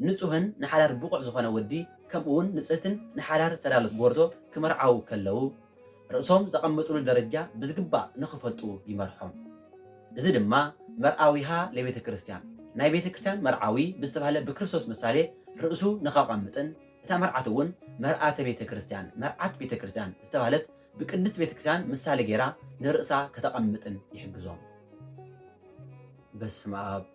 ንጹህን ንሓዳር ብቑዕ ዝኾነ ወዲ ከምኡውን ንጽህትን ንሓዳር ዝተዳሎት ጎርዞ ክምርዓዉ ከለዉ፣ ርእሶም ዘቐምጥሉ ደረጃ ብዝግባእ ንኽፈልጡ ይመርሖም። እዚ ድማ መርኣዊሃ ለቤተ ክርስቲያን፣ ናይ ቤተ ክርስቲያን መርዓዊ ብዝተባህለ ብክርስቶስ ምሳሌ ርእሱ ንኸቐምጥን፣ እታ መርዓት እውን መርኣተ ቤተ ክርስቲያን፣ መርዓት ቤተ ክርስቲያን፣ ዝተባህለት ብቅድስት ቤተ ክርስቲያን ምሳሌ ገይራ ንርእሳ ከተቐምጥን ይሕግዞም። በስመ ኣብ።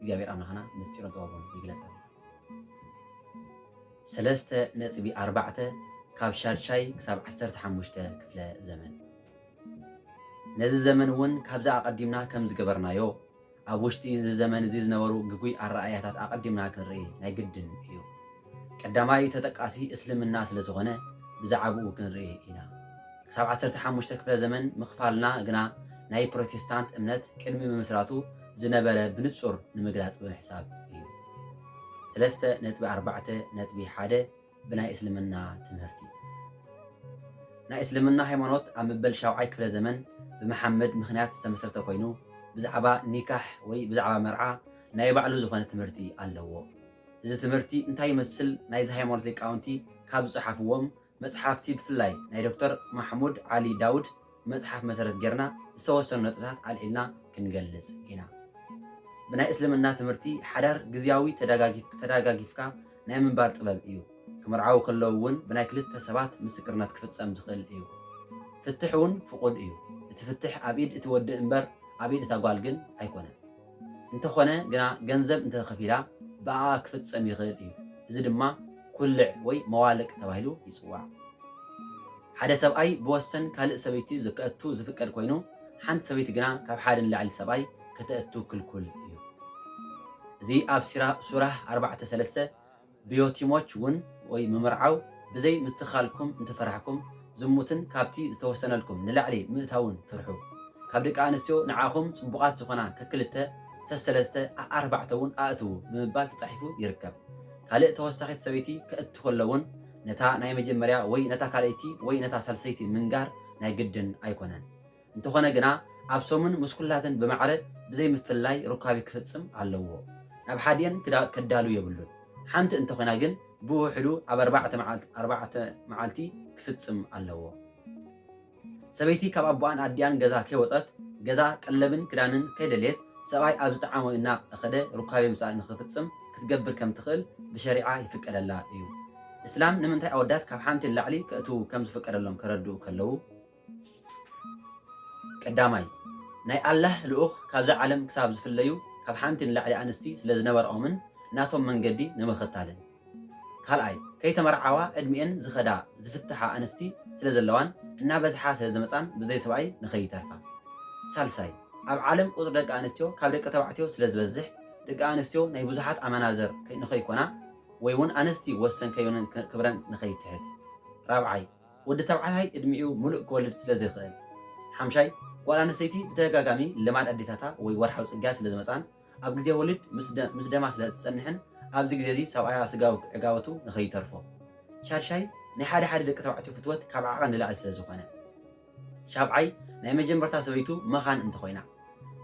እግዚኣብሔር ኣምላኽና ምስጢሩን ጥበቡን ይግለጸልና። ሰለስተ ነጥቢ ኣርባዕተ ካብ ሻድሻይ ክሳብ ዓሰርተ ሓሙሽተ ክፍለ ዘመን ነዚ ዘመን እውን ካብዚ ኣቐዲምና ከም ዝገበርናዮ ኣብ ውሽጢ እዚ ዘመን እዚ ዝነበሩ ግጉይ ኣረኣእያታት ኣቐዲምና ክንርኢ ናይ ግድን እዩ። ቀዳማይ ተጠቃሲ እስልምና ስለ ዝኾነ ብዛዕብኡ ክንርኢ ኢና። ክሳብ ዓሰርተ ሓሙሽተ ክፍለ ዘመን ምክፋልና ግና ናይ ፕሮቴስታንት እምነት ቅድሚ ምምስራቱ ዝነበረ ብንጹር ንምግላጽ ብምሕሳብ እዩ። ሰለስተ ነጥቢ ኣርባዕተ ነጥቢ ሓደ ብናይ እስልምና ትምህርቲ ናይ እስልምና ሃይማኖት ኣብ መበል ሻውዓይ ክፍለ ዘመን ብመሓመድ ምክንያት ዝተመስረተ ኮይኑ ብዛዕባ ኒካሕ ወይ ብዛዕባ መርዓ ናይ ባዕሉ ዝኾነ ትምህርቲ ኣለዎ። እዚ ትምህርቲ እንታይ ይመስል ናይዚ ሃይማኖት ሊቃውንቲ ካብ ዝጸሓፍዎም መጽሓፍቲ ብፍላይ ናይ ዶክተር ማሕሙድ ዓሊ ዳውድ መጽሓፍ መሰረት ጌርና ዝተወሰኑ ነጥብታት ኣልዒልና ክንገልጽ ኢና። ብናይ እስልምና ትምህርቲ ሓዳር ግዝያዊ ተዳጋጊፍካ ናይ ምንባር ጥበብ እዩ። ክምርዓዉ ከለዉ እውን ብናይ ክልተ ሰባት ምስክርነት ክፍጸም ዝኽእል እዩ። ፍትሕ እውን ፍቑድ እዩ። እቲ ፍትሕ ኣብ ኢድ እቲ ወዲ እምበር ኣብ ኢድ እታ ጓል ግን ኣይኮነን። እንተኾነ ግና ገንዘብ እንተተኸፊላ ብኣኣ ክፍጸም ይኽእል እዩ። እዚ ድማ ኩልዕ ወይ መዋልቅ ተባሂሉ ይጽዋዕ። ሓደ ሰብኣይ ብወሰን ካልእ ሰበይቲ ከእቱ ዝፍቀድ ኮይኑ ሓንቲ ሰበይቲ ግና ካብ ሓደ ንላዕሊ ሰብኣይ ከተእቱ ክልኩል እዩ። እዚ ኣብ ሱራህ ኣርባዕተ ሰለስተ ብዮቲሞች ውን ወይ ምምርዓው ብዘይ ምስትክካልኩም እንተፈራሕኩም ዝሙትን ካብቲ ዝተወሰነልኩም ንላዕሊ ምእታውን ፍርሑ። ካብ ደቂ ኣንስትዮ ንዓኹም ጽቡቓት ዝኾና ከክልተ፣ ሰሰለስተ፣ ኣኣርባዕተ ውን ኣእትዉ ብምባል ተጻሒፉ ይርከብ። ካልእ ተወሳኺት ሰበይቲ ከእቱ ከሎ ውን ነታ ናይ መጀመርያ ወይ ነታ ካልኣይቲ ወይ ነታ ሳልሰይቲ ምንጋር ናይ ግድን ኣይኮነን። እንተኾነ ግና ኣብ ሰሙን ምስ ኩላተን ብማዕረ ብዘይ ምፍልላይ ሩካቤ ክፍጽም ኣለዎ። ናብ ሓዲኤን ክዳውት ከዳሉ የብሉን። ሓንቲ እንተኾይና ግን ብውሕዱ ኣብ ኣርባዕተ መዓልት ኣርባዕተ መዓልቲ ክፍጽም ኣለዎ። ሰበይቲ ካብ ኣቦኣን ኣዲኣን ገዛ ከይወጸት ገዛ ቀለብን ክዳንን ከይደልየት ሰብኣይ ኣብ ዝጠዓሞ እና እኸደ ሩካቤ ምስኣ ንክፍጽም ክትገብር ከም ትኽእል ብሸሪዓ ይፍቀደላ እዩ። እስላም ንምንታይ ኣወዳት ካብ ሓንቲ ንላዕሊ ከእትዉ ከም ዝፍቀደሎም ከረድኡ ከለዉ። ቀዳማይ፣ ናይ ኣላህ ልኡኽ ካብዛ ዓለም ክሳብ ዝፍለዩ ካብ ሓንቲ ንላዕሊ ኣንስቲ ስለ ዝነበርኦምን ናቶም መንገዲ ንምኽታልን። ካልኣይ፣ ከይተመርዓዋ ዕድሚኤን ዝኸዳ ዝፍትሓ ኣንስቲ ስለ ዘለዋን እናበዝሓ ስለ ዝመጻን ብዘይ ሰብኣይ ንኸይተርፋ። ሳልሳይ፣ ኣብ ዓለም ቁጽሪ ደቂ ኣንስትዮ ካብ ደቂ ተባዕትዮ ስለ ዝበዝሕ ደቂ ኣንስትዮ ናይ ብዙሓት ኣመናዝር ንኸይኮና ወይ'ውን ኣንስቲ ወሰን ከይበነን ክብረን ንኸይትሕት። ራብዓይ፣ ወዲ ተባዕታይ እድሚኡ ሙሉእ ክወልድ ስለ ዘይክእል። ሓምሻይ፣ ጓል ኣንስተይቲ ብተደጋጋሚ ልማድ ኣዴታታ ወይ ወርሓዊ ጽግያት ስለ ዝመጽኣን ኣብ ግዜ ወሊድ ምስ ደማ ስለ እትጸንሕን ኣብዚ ግዜ እዚ ሰብኣያ ስጋዊ ዕጋበቱ ንኸይተርፎ። ሻድሻይ፣ ናይ ሓደ ሓደ ደቂ ተባዕትዮ ፍትወት ካብ ዓቐን ንላዕሊ ስለ ዝኾነ። ሻብዓይ፣ ናይ መጀመርታ ሰበይቱ መኻን እንተኾይና።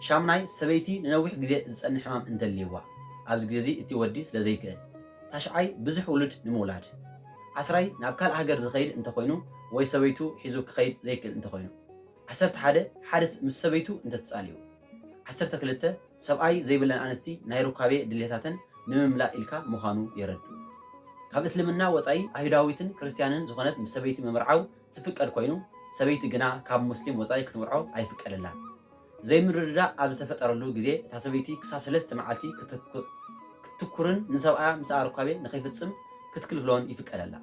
ሻምናይ፣ ሰበይቲ ንነዊሕ ግዜ ዝጸንሕ ሕማም እንተልይዋ፣ ኣብዚ ግዜ እዚ እቲ ወዲ ስለ ዘይክእል። ታሽዓይ፣ ብዙሕ ውሉድ ንምውላድ። ዓስራይ፣ ናብ ካልእ ሃገር ዝኸይድ እንተ ኾይኑ ወይ ሰበይቱ ሒዙ ክኸይድ ዘይክእል እንተ ኾይኑ። ዓሰርተ ሓደ፣ ሓደ ምስ ሰበይቱ እንተ ተጻሊኡ። ዓሰርተ ክልተ፣ ሰብኣይ ዘይብለን ኣንስቲ ናይ ሩካቤ ድልየታተን ንምምላእ ኢልካ ምዃኑ የረድኡ። ካብ እስልምና ወጻኢ ኣይሁዳዊትን ክርስትያንን ዝኾነት ምስ ሰበይቲ ምምርዓው ዝፍቀድ ኮይኑ ሰበይቲ ግና ካብ ሙስሊም ወፃኢ ክትምርዖ ኣይፍቀደላን። ዘይምርድዳእ ኣብ ዝተፈጠረሉ ግዜ እታ ሰበይቲ ክሳብ ሰለስተ መዓልቲ ክትትኩርን ንሰብኣያ ምስኣ ርኳቤ ንከይፍፅም ክትክልክሎን ይፍቀደላ።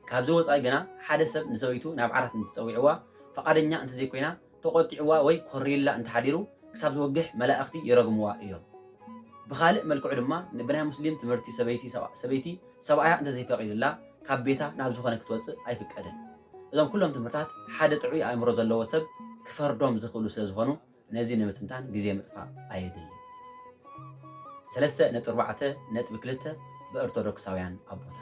ካብዚ ወፃኢ ግና ሓደ ሰብ ንሰበይቱ ናብ ዓራት እንትፀዊዕዋ ፈቓደኛ እንተዘይኮይና ተቖጢዕዋ ወይ ኮሪዩላ እንተ ሓዲሩ ክሳብ ዝወግሕ መላእኽቲ ይረግምዋ እዮም። ብኻልእ መልክዑ ድማ ብናይ ሙስሊም ትምህርቲ ሰበይቲ ሰበይቲ ሰብኣያ እንተ ዘይፈቒዱላ ካብ ቤታ ናብ ዝኾነ ክትወጽእ ኣይፍቀድን። እዞም ኩሎም ትምህርታት ሓደ ጥዑይ ኣእምሮ ዘለዎ ሰብ ክፈርዶም ዝኽእሉ ስለ ዝኾኑ ነዚ ንምትንታን ግዜ ምጥፋእ ኣየድልን። ሰለስተ ነጥቢ ኣርባዕተ ነጥቢ ክልተ ብኦርቶዶክሳውያን ኣቦታት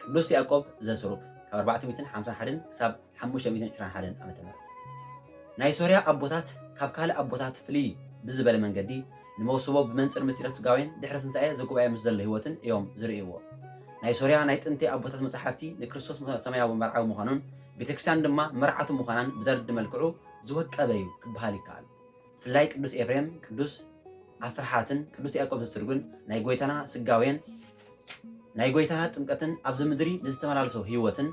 ቅዱስ ያእቆብ ዘስሩግ ካብ ኣርባዕተ ሚእትን ሓምሳን ሓደን ክሳብ ሓሙሽተ ሚእትን ዕስራን ሓደን ዓመተ ምህረት ናይ ሶርያ ኣቦታት ካብ ካልእ ኣቦታት ፍልይ ብዝበለ መንገዲ ንመውስቦ ብመንጽር ምስጢረ ስጋዌን ድሕሪ ትንሳኤ ዘጉባኤ ምስ ዘሎ ሕይወትን እዮም ዝርእይዎ። ናይ ሶርያ ናይ ጥንቲ ኣቦታት መጻሕፍቲ ንክርስቶስ ሰማያዊ መርዓዊ ምዃኑን ቤተክርስትያን ድማ መርዓቱ ምዃናን ብዘረድእ መልክዑ ዝወቀበ እዩ ክበሃል ይከኣል። ፍላይ ቅዱስ ኤፍሬም ቅዱስ ኣፍርሓትን ቅዱስ ያዕቆብ ዘስትርጉን ናይ ጎይታና ስጋዌን ናይ ጎይታና ጥምቀትን ኣብዚ ምድሪ ንዝተመላለሶ ህይወትን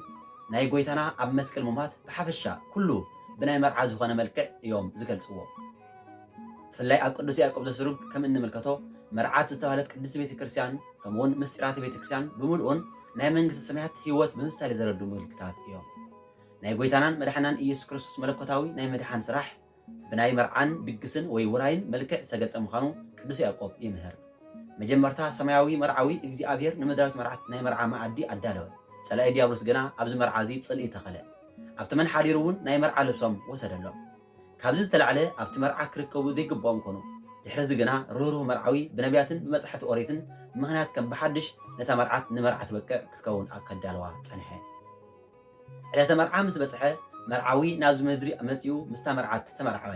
ናይ ጎይታና ኣብ መስቀል ምሟት ብሓፈሻ ኩሉ ብናይ መርዓ ዝኾነ መልክዕ እዮም ዝገልጽዎ። ብፍላይ ኣብ ቅዱስ ያዕቆብ ዘስሩግ ከም እንምልከቶ መርዓት ዝተባህለት ቅድስት ቤተ ክርስቲያን ከምኡውን ምስጢራተ ቤተ ክርስቲያን ብምልኡን ናይ መንግስቲ ሰማያት ህይወት ብምሳሌ ዘረዱ ምልክታት እዮም። ናይ ጎይታናን መድሓናን ኢየሱስ ክርስቶስ መለኮታዊ ናይ ምድሓን ስራሕ ብናይ መርዓን ድግስን ወይ ውራይን መልክዕ ዝተገልጸ ምዃኑ ቅዱስ ያእቆብ ይምህር። መጀመርታ ሰማያዊ መርዓዊ እግዚኣብሔር ንምድራዊት መርዓት ናይ መርዓ መኣዲ ኣዳለወ። ጸላኢ ዲያብሎስ ግና ኣብዚ መርዓ እዚ ጽልኢ ተኸለ። ኣብቲ መን ሓዲሩ እውን ናይ መርዓ ልብሶም ወሰደሎም። ካብዚ ዝተላዕለ ኣብቲ መርዓ ክርከቡ ዘይግብኦም ኮኑ። ድሕሪ እዚ ግና ርህሩህ መርዓዊ ብነብያትን ብመጻሕፍቲ ኦሪትን ምኽንያት ከም ብሓድሽ ነታ መርዓት ንመርዓ ትበቅዕ ክትከውን ኣከዳልዋ ጸንሐ። ዕለተ መርዓ ምስ በጽሐ፣ መርዓዊ ናብዚ ምድሪ መጺኡ ምስታ መርዓት ተመርዓወ።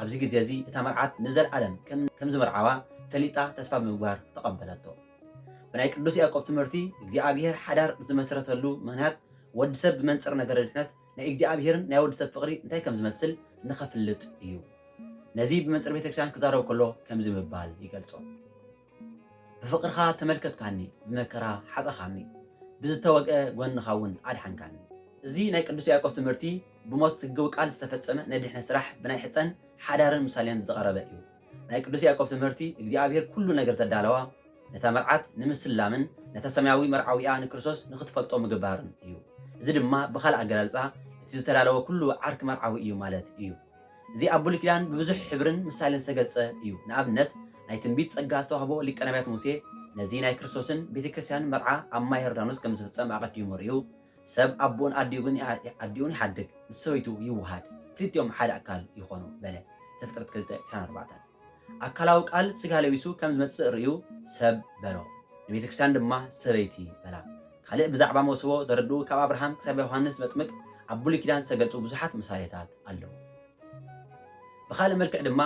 ኣብዚ ግዜ እዚ እታ መርዓት ንዘልኣለም ከም ዝምርዓዋ ፈሊጣ ተስፋ ብምግባር ተቐበለቶ። ብናይ ቅዱስ ያዕቆብ ትምህርቲ እግዚኣብሔር ሓዳር ዝመስረተሉ ምኽንያት ወዲ ሰብ ብመንጽር ነገረ ድሕነት ናይ እግዚኣብሔርን ናይ ወዲ ሰብ ፍቕሪ እንታይ ከም ዝመስል ንኸፍልጥ እዩ። ነዚ ብመንጽር ቤተክርስቲያን ክዛረብ ከሎ ከምዚ ብምባል ይገልጾ። ብፍቕርኻ ተመልከትካኒ ብመከራ ሓጸኻኒ ብዝተወግኣ ጎንኻ ውን ኣድሓንካኒ። እዚ ናይ ቅዱስ ያዕቆብ ትምህርቲ ብሞት ስግው ቃል ዝተፈጸመ ናይ ድሕነት ስራሕ ብናይ ሕጸን ሓዳርን ምሳሌን ዝቐረበ እዩ። ናይ ቅዱስ ያዕቆብ ትምህርቲ እግዚኣብሔር ኩሉ ነገር ዘዳለዋ ነታ መርዓት ንምስላምን ነታ ሰማያዊ መርዓዊኣ ንክርስቶስ ንክትፈልጦ ምግባርን እዩ። እዚ ድማ ብኻልእ ኣገላልጻ እቲ ዝተዳለወ ኩሉ ዓርኪ መርዓዊ እዩ ማለት እዩ። እዚ ኣብ ብሉይ ኪዳን ብብዙሕ ሕብርን ምሳሌን ዝተገልጸ እዩ። ንኣብነት ናይ ትንቢት ጸጋ ዝተዋህቦ ሊቀ ነብያት ሙሴ ነዚ ናይ ክርስቶስን ቤተ ክርስቲያንን መርዓ ኣብ ማይ ዮርዳኖስ ከም ዝፍጸም ኣቐዲሙ ርእዩ፣ ሰብ ኣቦኡን ኣዲኡን ኣዲኡን ይሓድግ፣ ምስ ሰበይቱ ይወሃድ፣ ክልቲኦም ሓደ ኣካል ይኾኑ በለ፣ ዘፍጥረት ክልተ ዕስራን ኣርባዕተን። ኣካላዊ ቃል ስጋ ለቢሱ ከም ዝመጽእ ርእዩ ሰብ በሎ፣ ንቤተ ክርስቲያን ድማ ሰበይቲ በላ። ካልእ ብዛዕባ መውስቦ ዘረድኡ ካብ ኣብርሃም ክሳብ ዮሃንስ መጥምቅ ኣብ ብሉይ ኪዳን ዝተገልጹ ብዙሓት ምሳሌታት ኣለዉ። ብኻልእ መልክዕ ድማ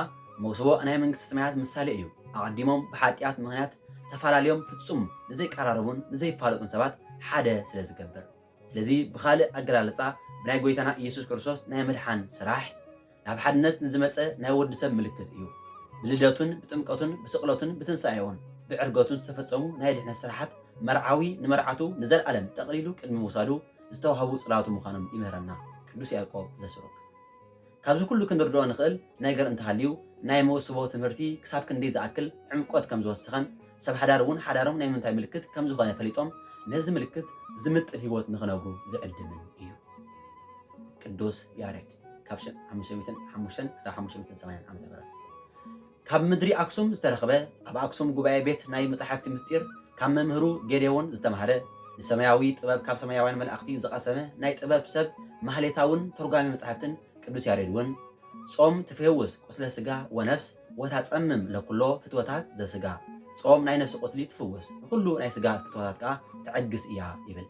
መውስቦ ናይ መንግስተ ሰማያት ምሳሌ እዩ። ኣቐዲሞም ብሓጥያት ምኽንያት ተፋላልዮም ፍጹም ንዘይቀራረቡን ንዘይፋለጡን ሰባት ሓደ ስለ ዝገብር። ስለዚ ብኻልእ ኣገላልጻ ብናይ ጎይታና ኢየሱስ ክርስቶስ ናይ ምድሓን ስራሕ ናብ ሓድነት ንዝመጸ ናይ ወዲ ሰብ ምልክት እዩ። ብልደቱን ብጥምቀቱን ብስቕለቱን ብትንሳኤኡን ብዕርገቱን ዝተፈጸሙ ናይ ድሕነት ስራሓት መርዓዊ ንመርዓቱ ንዘልኣለም ጠቕሊሉ ቅድሚ ምውሳዱ ዝተዋህቡ ጽላቱ ምዃኖም ይምህረና ቅዱስ ያዕቆብ ዘስሩግ። ካብዚ ኩሉ ክንርድኦ ንኽእል ነገር እንተሃልዩ ናይ መውስቦ ትምህርቲ ክሳብ ክንደይ ዝኣክል ዕምቆት ከም ዝወሰኸን ሰብ ሓዳር እውን ሓዳሮም ናይ ምንታይ ምልክት ከም ዝኾነ ፈሊጦም ነዚ ምልክት ዝምጥን ህይወት ንኽነብሩ ዝዕድምን እዩ። ቅዱስ ያሬድ ካብ ሸ ሓሙሽተ ሚእትን ሓሙሽተን ክሳብ ሓሙሽተ ሚእትን ሰማንያን ዓመተ ምህረት። ካብ ምድሪ ኣክሱም ዝተረኽበ ኣብ ኣክሱም ጉባኤ ቤት ናይ መጻሕፍቲ ምስጢር ካብ መምህሩ ጌዴዎን ዝተማህረ ንሰማያዊ ጥበብ ካብ ሰማያውያን መላእኽቲ ዝቐሰመ ናይ ጥበብ ሰብ ማህሌታውን ተርጓሚ መጻሕፍትን ቅዱስ ያሬድ እውን ጾም ትፌውስ ቁስለ ሥጋ ወነፍስ ወታጸምም ለኵሎ ፍትወታት ዘሥጋ ጾም ናይ ነፍሲ ቁስሊ ትፍውስ ንዅሉ ናይ ሥጋ ፍትወታት ከኣ ተዕግስ እያ ይብል።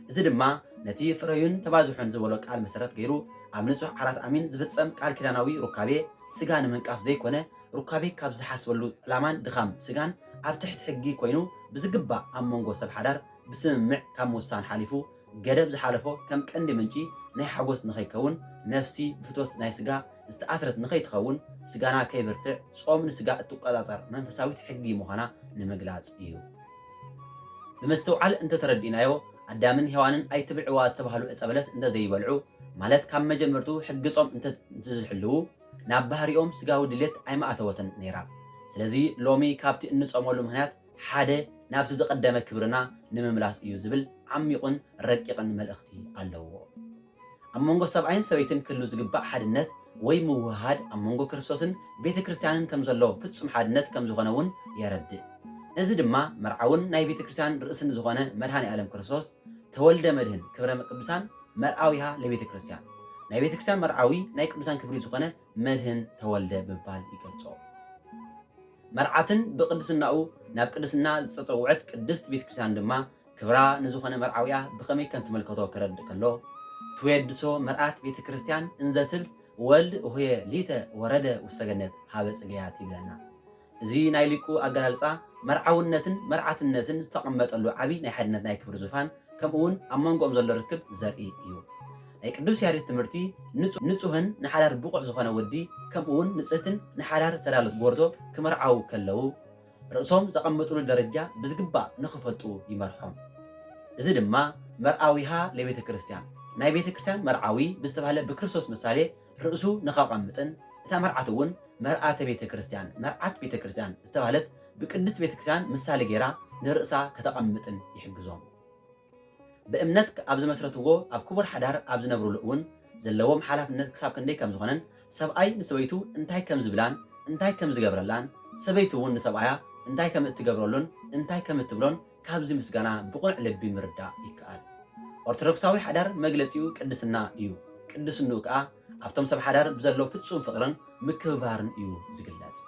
እዚ ድማ ነቲ ፍረዩን ተባዝሑን ዝበሎ ቃል መሰረት ገይሩ ኣብ ንጹሕ ዓራት ኣሚን ዝፍጸም ቃል ኪዳናዊ ሩካቤ ስጋ ንምንቃፍ ዘይኮነ ሩካቤ ካብ ዝሓስበሉ ዕላማን ድኻም ስጋን ኣብ ትሕቲ ሕጊ ኮይኑ ብዝግባእ ኣብ መንጎ ሰብ ሓዳር ብስምምዕ ካብ ምውሳን ሓሊፉ ገደብ ዝሓለፎ ከም ቀንዲ ምንጪ ናይ ሓጎስ ንኸይከውን ነፍሲ ብፍትወት ናይ ስጋ ዝተኣስረት ንኸይትኸውን ስጋና ከይብርትዕ ጾም ንስጋ እትቆጻጸር መንፈሳዊት ሕጊ ምዃና ንምግላጽ እዩ። ብመስተውዓል እንተ ተረዲእናዮ፣ ኣዳምን ሄዋንን ኣይትብልዕዋ ዝተባህሉ ዕጸ በለስ እንተ ዘይበልዑ፣ ማለት ካብ መጀመርትኡ ሕጊ ጾም እንተ ዝሕልዉ፣ ናብ ባህሪኦም ስጋዊ ድሌት ኣይምኣተወትን ነይራ። ስለዚ ሎሚ ካብቲ እንጾመሉ ምኽንያት ሓደ ናብቲ ዝቐደመ ክብርና ንምምላስ እዩ ዝብል ዓሚቝን ረቂቕን መልእኽቲ ኣለዎ። ኣብ መንጎ ሰብኣይን ሰበይትን ክህሉ ዝግባእ ሓድነት ወይ ምውህሃድ ኣብ መንጎ ክርስቶስን ቤተ ክርስቲያንን ከም ዘሎ ፍጹም ሓድነት ከም ዝኾነ እውን የረድእ። ነዚ ድማ መርዓውን ናይ ቤተ ክርስቲያን ርእስን ዝኾነ መድኃኔ ዓለም ክርስቶስ ተወልደ መድኅን ክብረ ቅዱሳን መርዓዊሃ ለቤተ ክርስቲያን ናይ ቤተ ክርስቲያን መርዓዊ ናይ ቅዱሳን ክብሪ ዝኾነ መድኅን ተወልደ ብምባል ይገልጾ። መርዓትን ብቅድስናኡ ናብ ቅድስና ዝተጸውዐት ቅድስት ቤተ ክርስቲያን ድማ ክብራ ንዝኾነ መርዓዊኣ ብኸመይ ከም ትምልከቶ ከረድእ ከሎ፣ ትዌድሶ መርኣት ቤተ ክርስቲያን እንዘ ትብል ወልድ እሆየ ሊተ ወረደ ውስተ ገነት ኀበ ጽጌያት ይብለና። እዚ ናይ ሊቁ ኣገላልጻ መርዓውነትን መርዓትነትን ዝተቐመጠሉ ዓቢ ናይ ሓድነት ናይ ክብሪ ዙፋን ከምኡውን ኣብ መንጎኦም ዘሎ ርክብ ዘርኢ እዩ። ናይ ቅዱስ ያሬድ ትምህርቲ ንጹህን ንሓዳር ብቑዕ ዝኾነ ወዲ ከምኡውን ንጽህትን ንሓዳር ዝተዳሎት ጎርዞ ክምርዓዉ ከለዉ፣ ርእሶም ዘቐምጥሉ ደረጃ ብዝግባእ ንኽፈልጡ ይመርሖም። እዚ ድማ መርኣዊሃ ለቤተ ክርስቲያን፣ ናይ ቤተ ክርስቲያን መርዓዊ ብዝተባህለ ብክርስቶስ ምሳሌ ርእሱ ንኸቐምጥን እታ መርዓትውን መርኣተ ቤተ ክርስቲያን፣ መርዓት ቤተ ክርስቲያን፣ ዝተባህለት ብቅድስት ቤተ ክርስቲያን ምሳሌ ገይራ ንርእሳ ከተቐምጥን ይሕግዞም። ብእምነት ኣብ ዝመስረትዎ ኣብ ክቡር ሓዳር ኣብ ዝነብሩሉ እውን ዘለዎም ሓላፍነት ክሳብ ክንደይ ከም ዝኾነን ሰብኣይ ንሰበይቱ እንታይ ከም ዝብላን እንታይ ከም ዝገብረላን ሰበይቲ እውን ንሰብኣያ እንታይ ከም እትገብረሉን እንታይ ከም እትብሎን ካብዚ ምስጋና ብቕኑዕ ልቢ ምርዳእ ይከኣል። ኦርቶዶክሳዊ ሓዳር መግለጺኡ ቅድስና እዩ። ቅድስንኡ ከኣ ኣብቶም ሰብ ሓዳር ብዘሎ ፍጹም ፍቕርን ምክብባርን እዩ ዝግለጽ።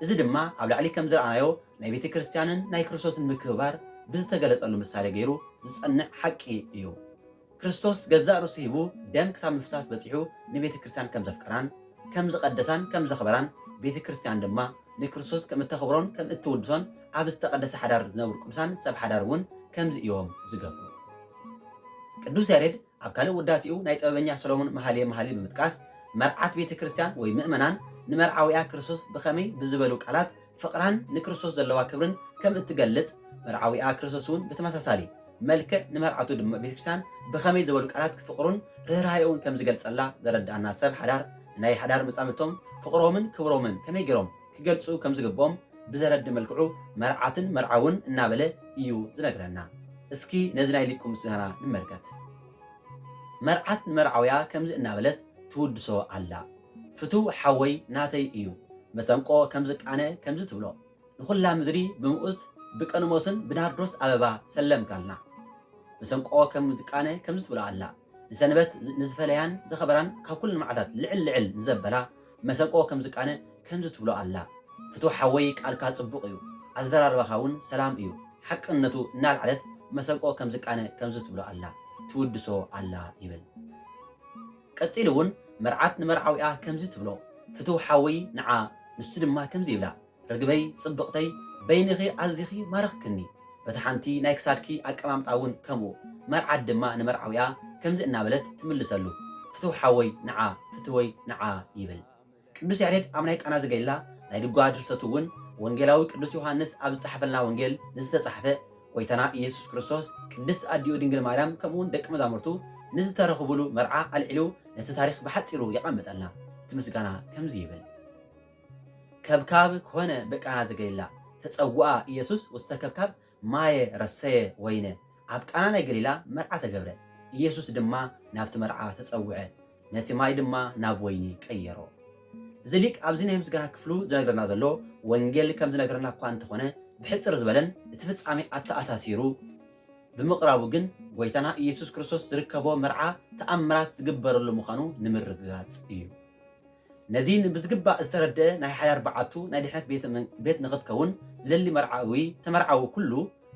እዚ ድማ ኣብ ላዕሊ ከም ዝረኣናዮ ናይ ቤተ ክርስቲያንን ናይ ክርስቶስን ምክብባር ብዝተገለጸሉ ምሳሌ ገይሩ ዝጸንዕ ሓቂ እዩ። ክርስቶስ ገዛእ ርእሱ ሂቡ ደም ክሳብ ምፍሳስ በጺሑ ንቤተ ክርስቲያን ከም ዘፍቀራን ከም ዝቐደሳን ከም ዘኽበራን ቤተ ክርስቲያን ድማ ንክርስቶስ ከም እተኽብሮን ከም እትውድሶን ኣብ ዝተቐደሰ ሓዳር ዝነብሩ ቅዱሳን ሰብ ሓዳር እውን ከምዚ እዮም ዝገብሩ። ቅዱስ ያሬድ ኣብ ካልእ ውዳሴኡ ናይ ጥበበኛ ሰሎሞን መሃልየ መሃልይ ብምጥቃስ መርዓት ቤተ ክርስቲያን ወይ ምእመናን ንመርዓዊኣ ክርስቶስ ብኸመይ ብዝበሉ ቃላት ፍቕራን ንክርስቶስ ዘለዋ ክብርን ከም እትገልጽ መርዓዊኣ ክርስቶስውን ብተመሳሳሊ መልክዕ ንመርዓቱ ድም ቤተ ክርስቲያን ብኸመይ ዝበሉ ቃላት ፍቕሩን ርህራሄኡን ከም ዝገልጸላ ዘረድኣና ሰብ ሓዳር ንናይ ሓዳር መጻምድቶም ፍቕሮምን ክብሮምን ከመይ ገይሮም ክገልጹ ከም ዝግብኦም ብዘረድእ መልክዑ መርዓትን መርዓውን እናበለ ኢዩ ዝነግረና። እስኪ ነዚ ናይ ሊቁ ምስጋና ንመልከት። መርዓት ንመርዓውያ ከምዚ እናበለት ትውድሶ ኣላ። ፍቱው ሓወይ ናተይ እዩ መሰንቆ ከም ዝቃነ ከምዚ ትብሎ ንኹላ ምድሪ ብምኡዝ ብቀንሞስን ብናርዶስ ኣበባ ሰለምካልና። መሰንቆ ከም ዝቃነ ከምዚ ትብሎ ኣላ። ንሰንበት ንዝፈለያን ዘኸበራን ካብ ኩለን መዓልታት ልዕል ልዕል ንዘበላ መሰንቆ ከም ዝቃነ ከምዚ ትብሎ ኣላ። ፍትው ሓወይ ቃልካ ጽቡቅ እዩ ኣዘራርባኻ ውን ሰላም እዩ ሓቅነቱ እናልዓለት መሰንቆ ከም ዝቃነ ከምዚ ትብሎ ኣላ ትውድሶ ኣላ ይብል ቀጺሉ ውን መርዓት ንመርዓዊኣ ከምዚ ትብሎ ፍትው ሓወይ ንዓ ንሱ ድማ ከምዚ ይብላ ርግበይ ጽብቅተይ በይንኺ ኣዚኺ ማርኽክኒ በታ ሓንቲ ናይ ክሳድኪ ኣቀማምጣ ውን ከምኡ መርዓት ድማ ንመርዓዊኣ ከምዚ እናበለት ትምልሰሉ ፍትው ሓወይ ንዓ ፍትወይ ንዓ ይብል ቅዱስ ያሬድ ኣብ ናይ ቃና ዘገሊላ ናይ ድጓ ድርሰቱ ውን ወንጌላዊ ቅዱስ ዮሓንስ ኣብ ዝጸሓፈልና ወንጌል ንዝተጻሕፈ ጎይታና ኢየሱስ ክርስቶስ ቅድስት ኣዲኡ ድንግል ማርያም ከምኡውን ደቂ መዛሙርቱ ንዝተረኽቡሉ መርዓ ኣልዒሉ ነቲ ታሪኽ ብሓጺሩ የቀምጠልና እቲ ምስጋና ከምዚ ይብል። ከብካብ ኮነ ብቃና ዘገሊላ ተጸውኣ ኢየሱስ ውስተ ከብካብ ማየ ረሰየ ወይነ ኣብ ቃና ናይ ገሊላ መርዓ ተገብረ ኢየሱስ ድማ ናብቲ መርዓ ተጸውዐ ነቲ ማይ ድማ ናብ ወይኒ ቀየሮ። እዚ ሊቅ ኣብዚ ናይ ምስጋና ክፍሉ ዝነግረና ዘሎ ወንጌል ከም ዝነግረና እኳ እንተኾነ ብሕጽር ዝበለን እቲ ፍጻሜ ኣተኣሳሲሩ ብምቕራቡ ግን ጎይታና ኢየሱስ ክርስቶስ ዝርከቦ መርዓ ተኣምራት ዝግበረሉ ምዃኑ ንምርግጋጽ እዩ። ነዚ ብዝግባእ ዝተረድኣ ናይ ሓዳር በዓቱ ናይ ድሕነት ቤት ንኽትከውን ዝደሊ መርዓዊ ተመርዓዊ ኩሉ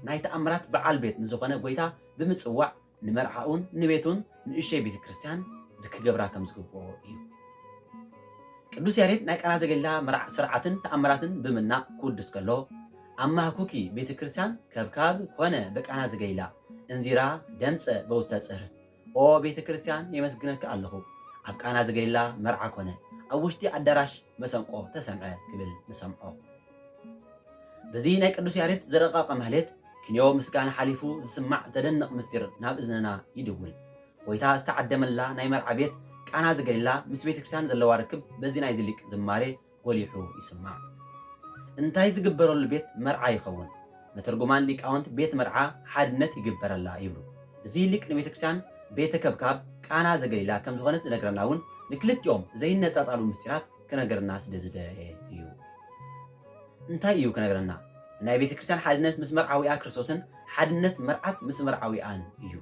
ናይ ተኣምራት በዓል ቤት ንዝኾነ ጎይታ ብምጽዋዕ ንመርዓኡን ንቤቱን ንእሽቶይ ቤተ ክርስቲያን ዝክገብራ ከም ዝግብኦ እዩ። ቅዱስ ያሬድ ናይ ቃና ዘገሊላ መርዓ ስርዓትን ተኣምራትን ብምናእ ክውድስ ከሎ ኣብ ማህኩኪ ቤተ ክርስቲያን ከብካብ ኮነ በቃና ዘገሊላ እንዚራ ደምጸ በውስተ ጽህር ኦ ቤተ ክርስቲያን የመስግነኪ ኣለኹ ኣብ ቃና ዘገሊላ መርዓ ኮነ ኣብ ውሽጢ ኣዳራሽ መሰንቆ ተሰምዐ ክብል ንሰምዖ በዚ ናይ ቅዱስ ያሬድ ዝረቀቀ ማህሌት ክንዮ ምስጋና ሓሊፉ ዝስማዕ ዘደንቅ ምስጢር ናብ እዝንና ይድውል ጎይታ ዝተዓደመላ ናይ መርዓ ቤት ቃና ዘገሊላ ምስ ቤተ ክርስቲያን ዘለዋ ርክብ በዚ ናይዚ ሊቅ ዝማሬ ጎሊሑ ይስማዕ። እንታይ ዝግበረሉ ቤት መርዓ ይኸውን? መተርጉማን ሊቃውንት ቤት መርዓ ሓድነት ይግበረላ ይብሉ። እዚ ሊቅ ንቤተክርስቲያን ቤተ ከብካብ ቃና ዘገሊላ ከም ዝኾነት ዝነግረና እውን ንክልቲኦም ዘይነጻጻሉ ምስጢራት ክነግረና ስለ ዝደለየ እዩ። እንታይ እዩ ክነግረና? ናይ ቤተክርስቲያን ሓድነት ምስ መርዓዊኣ ክርስቶስን ሓድነት መርዓት ምስ መርዓዊኣን እዩ።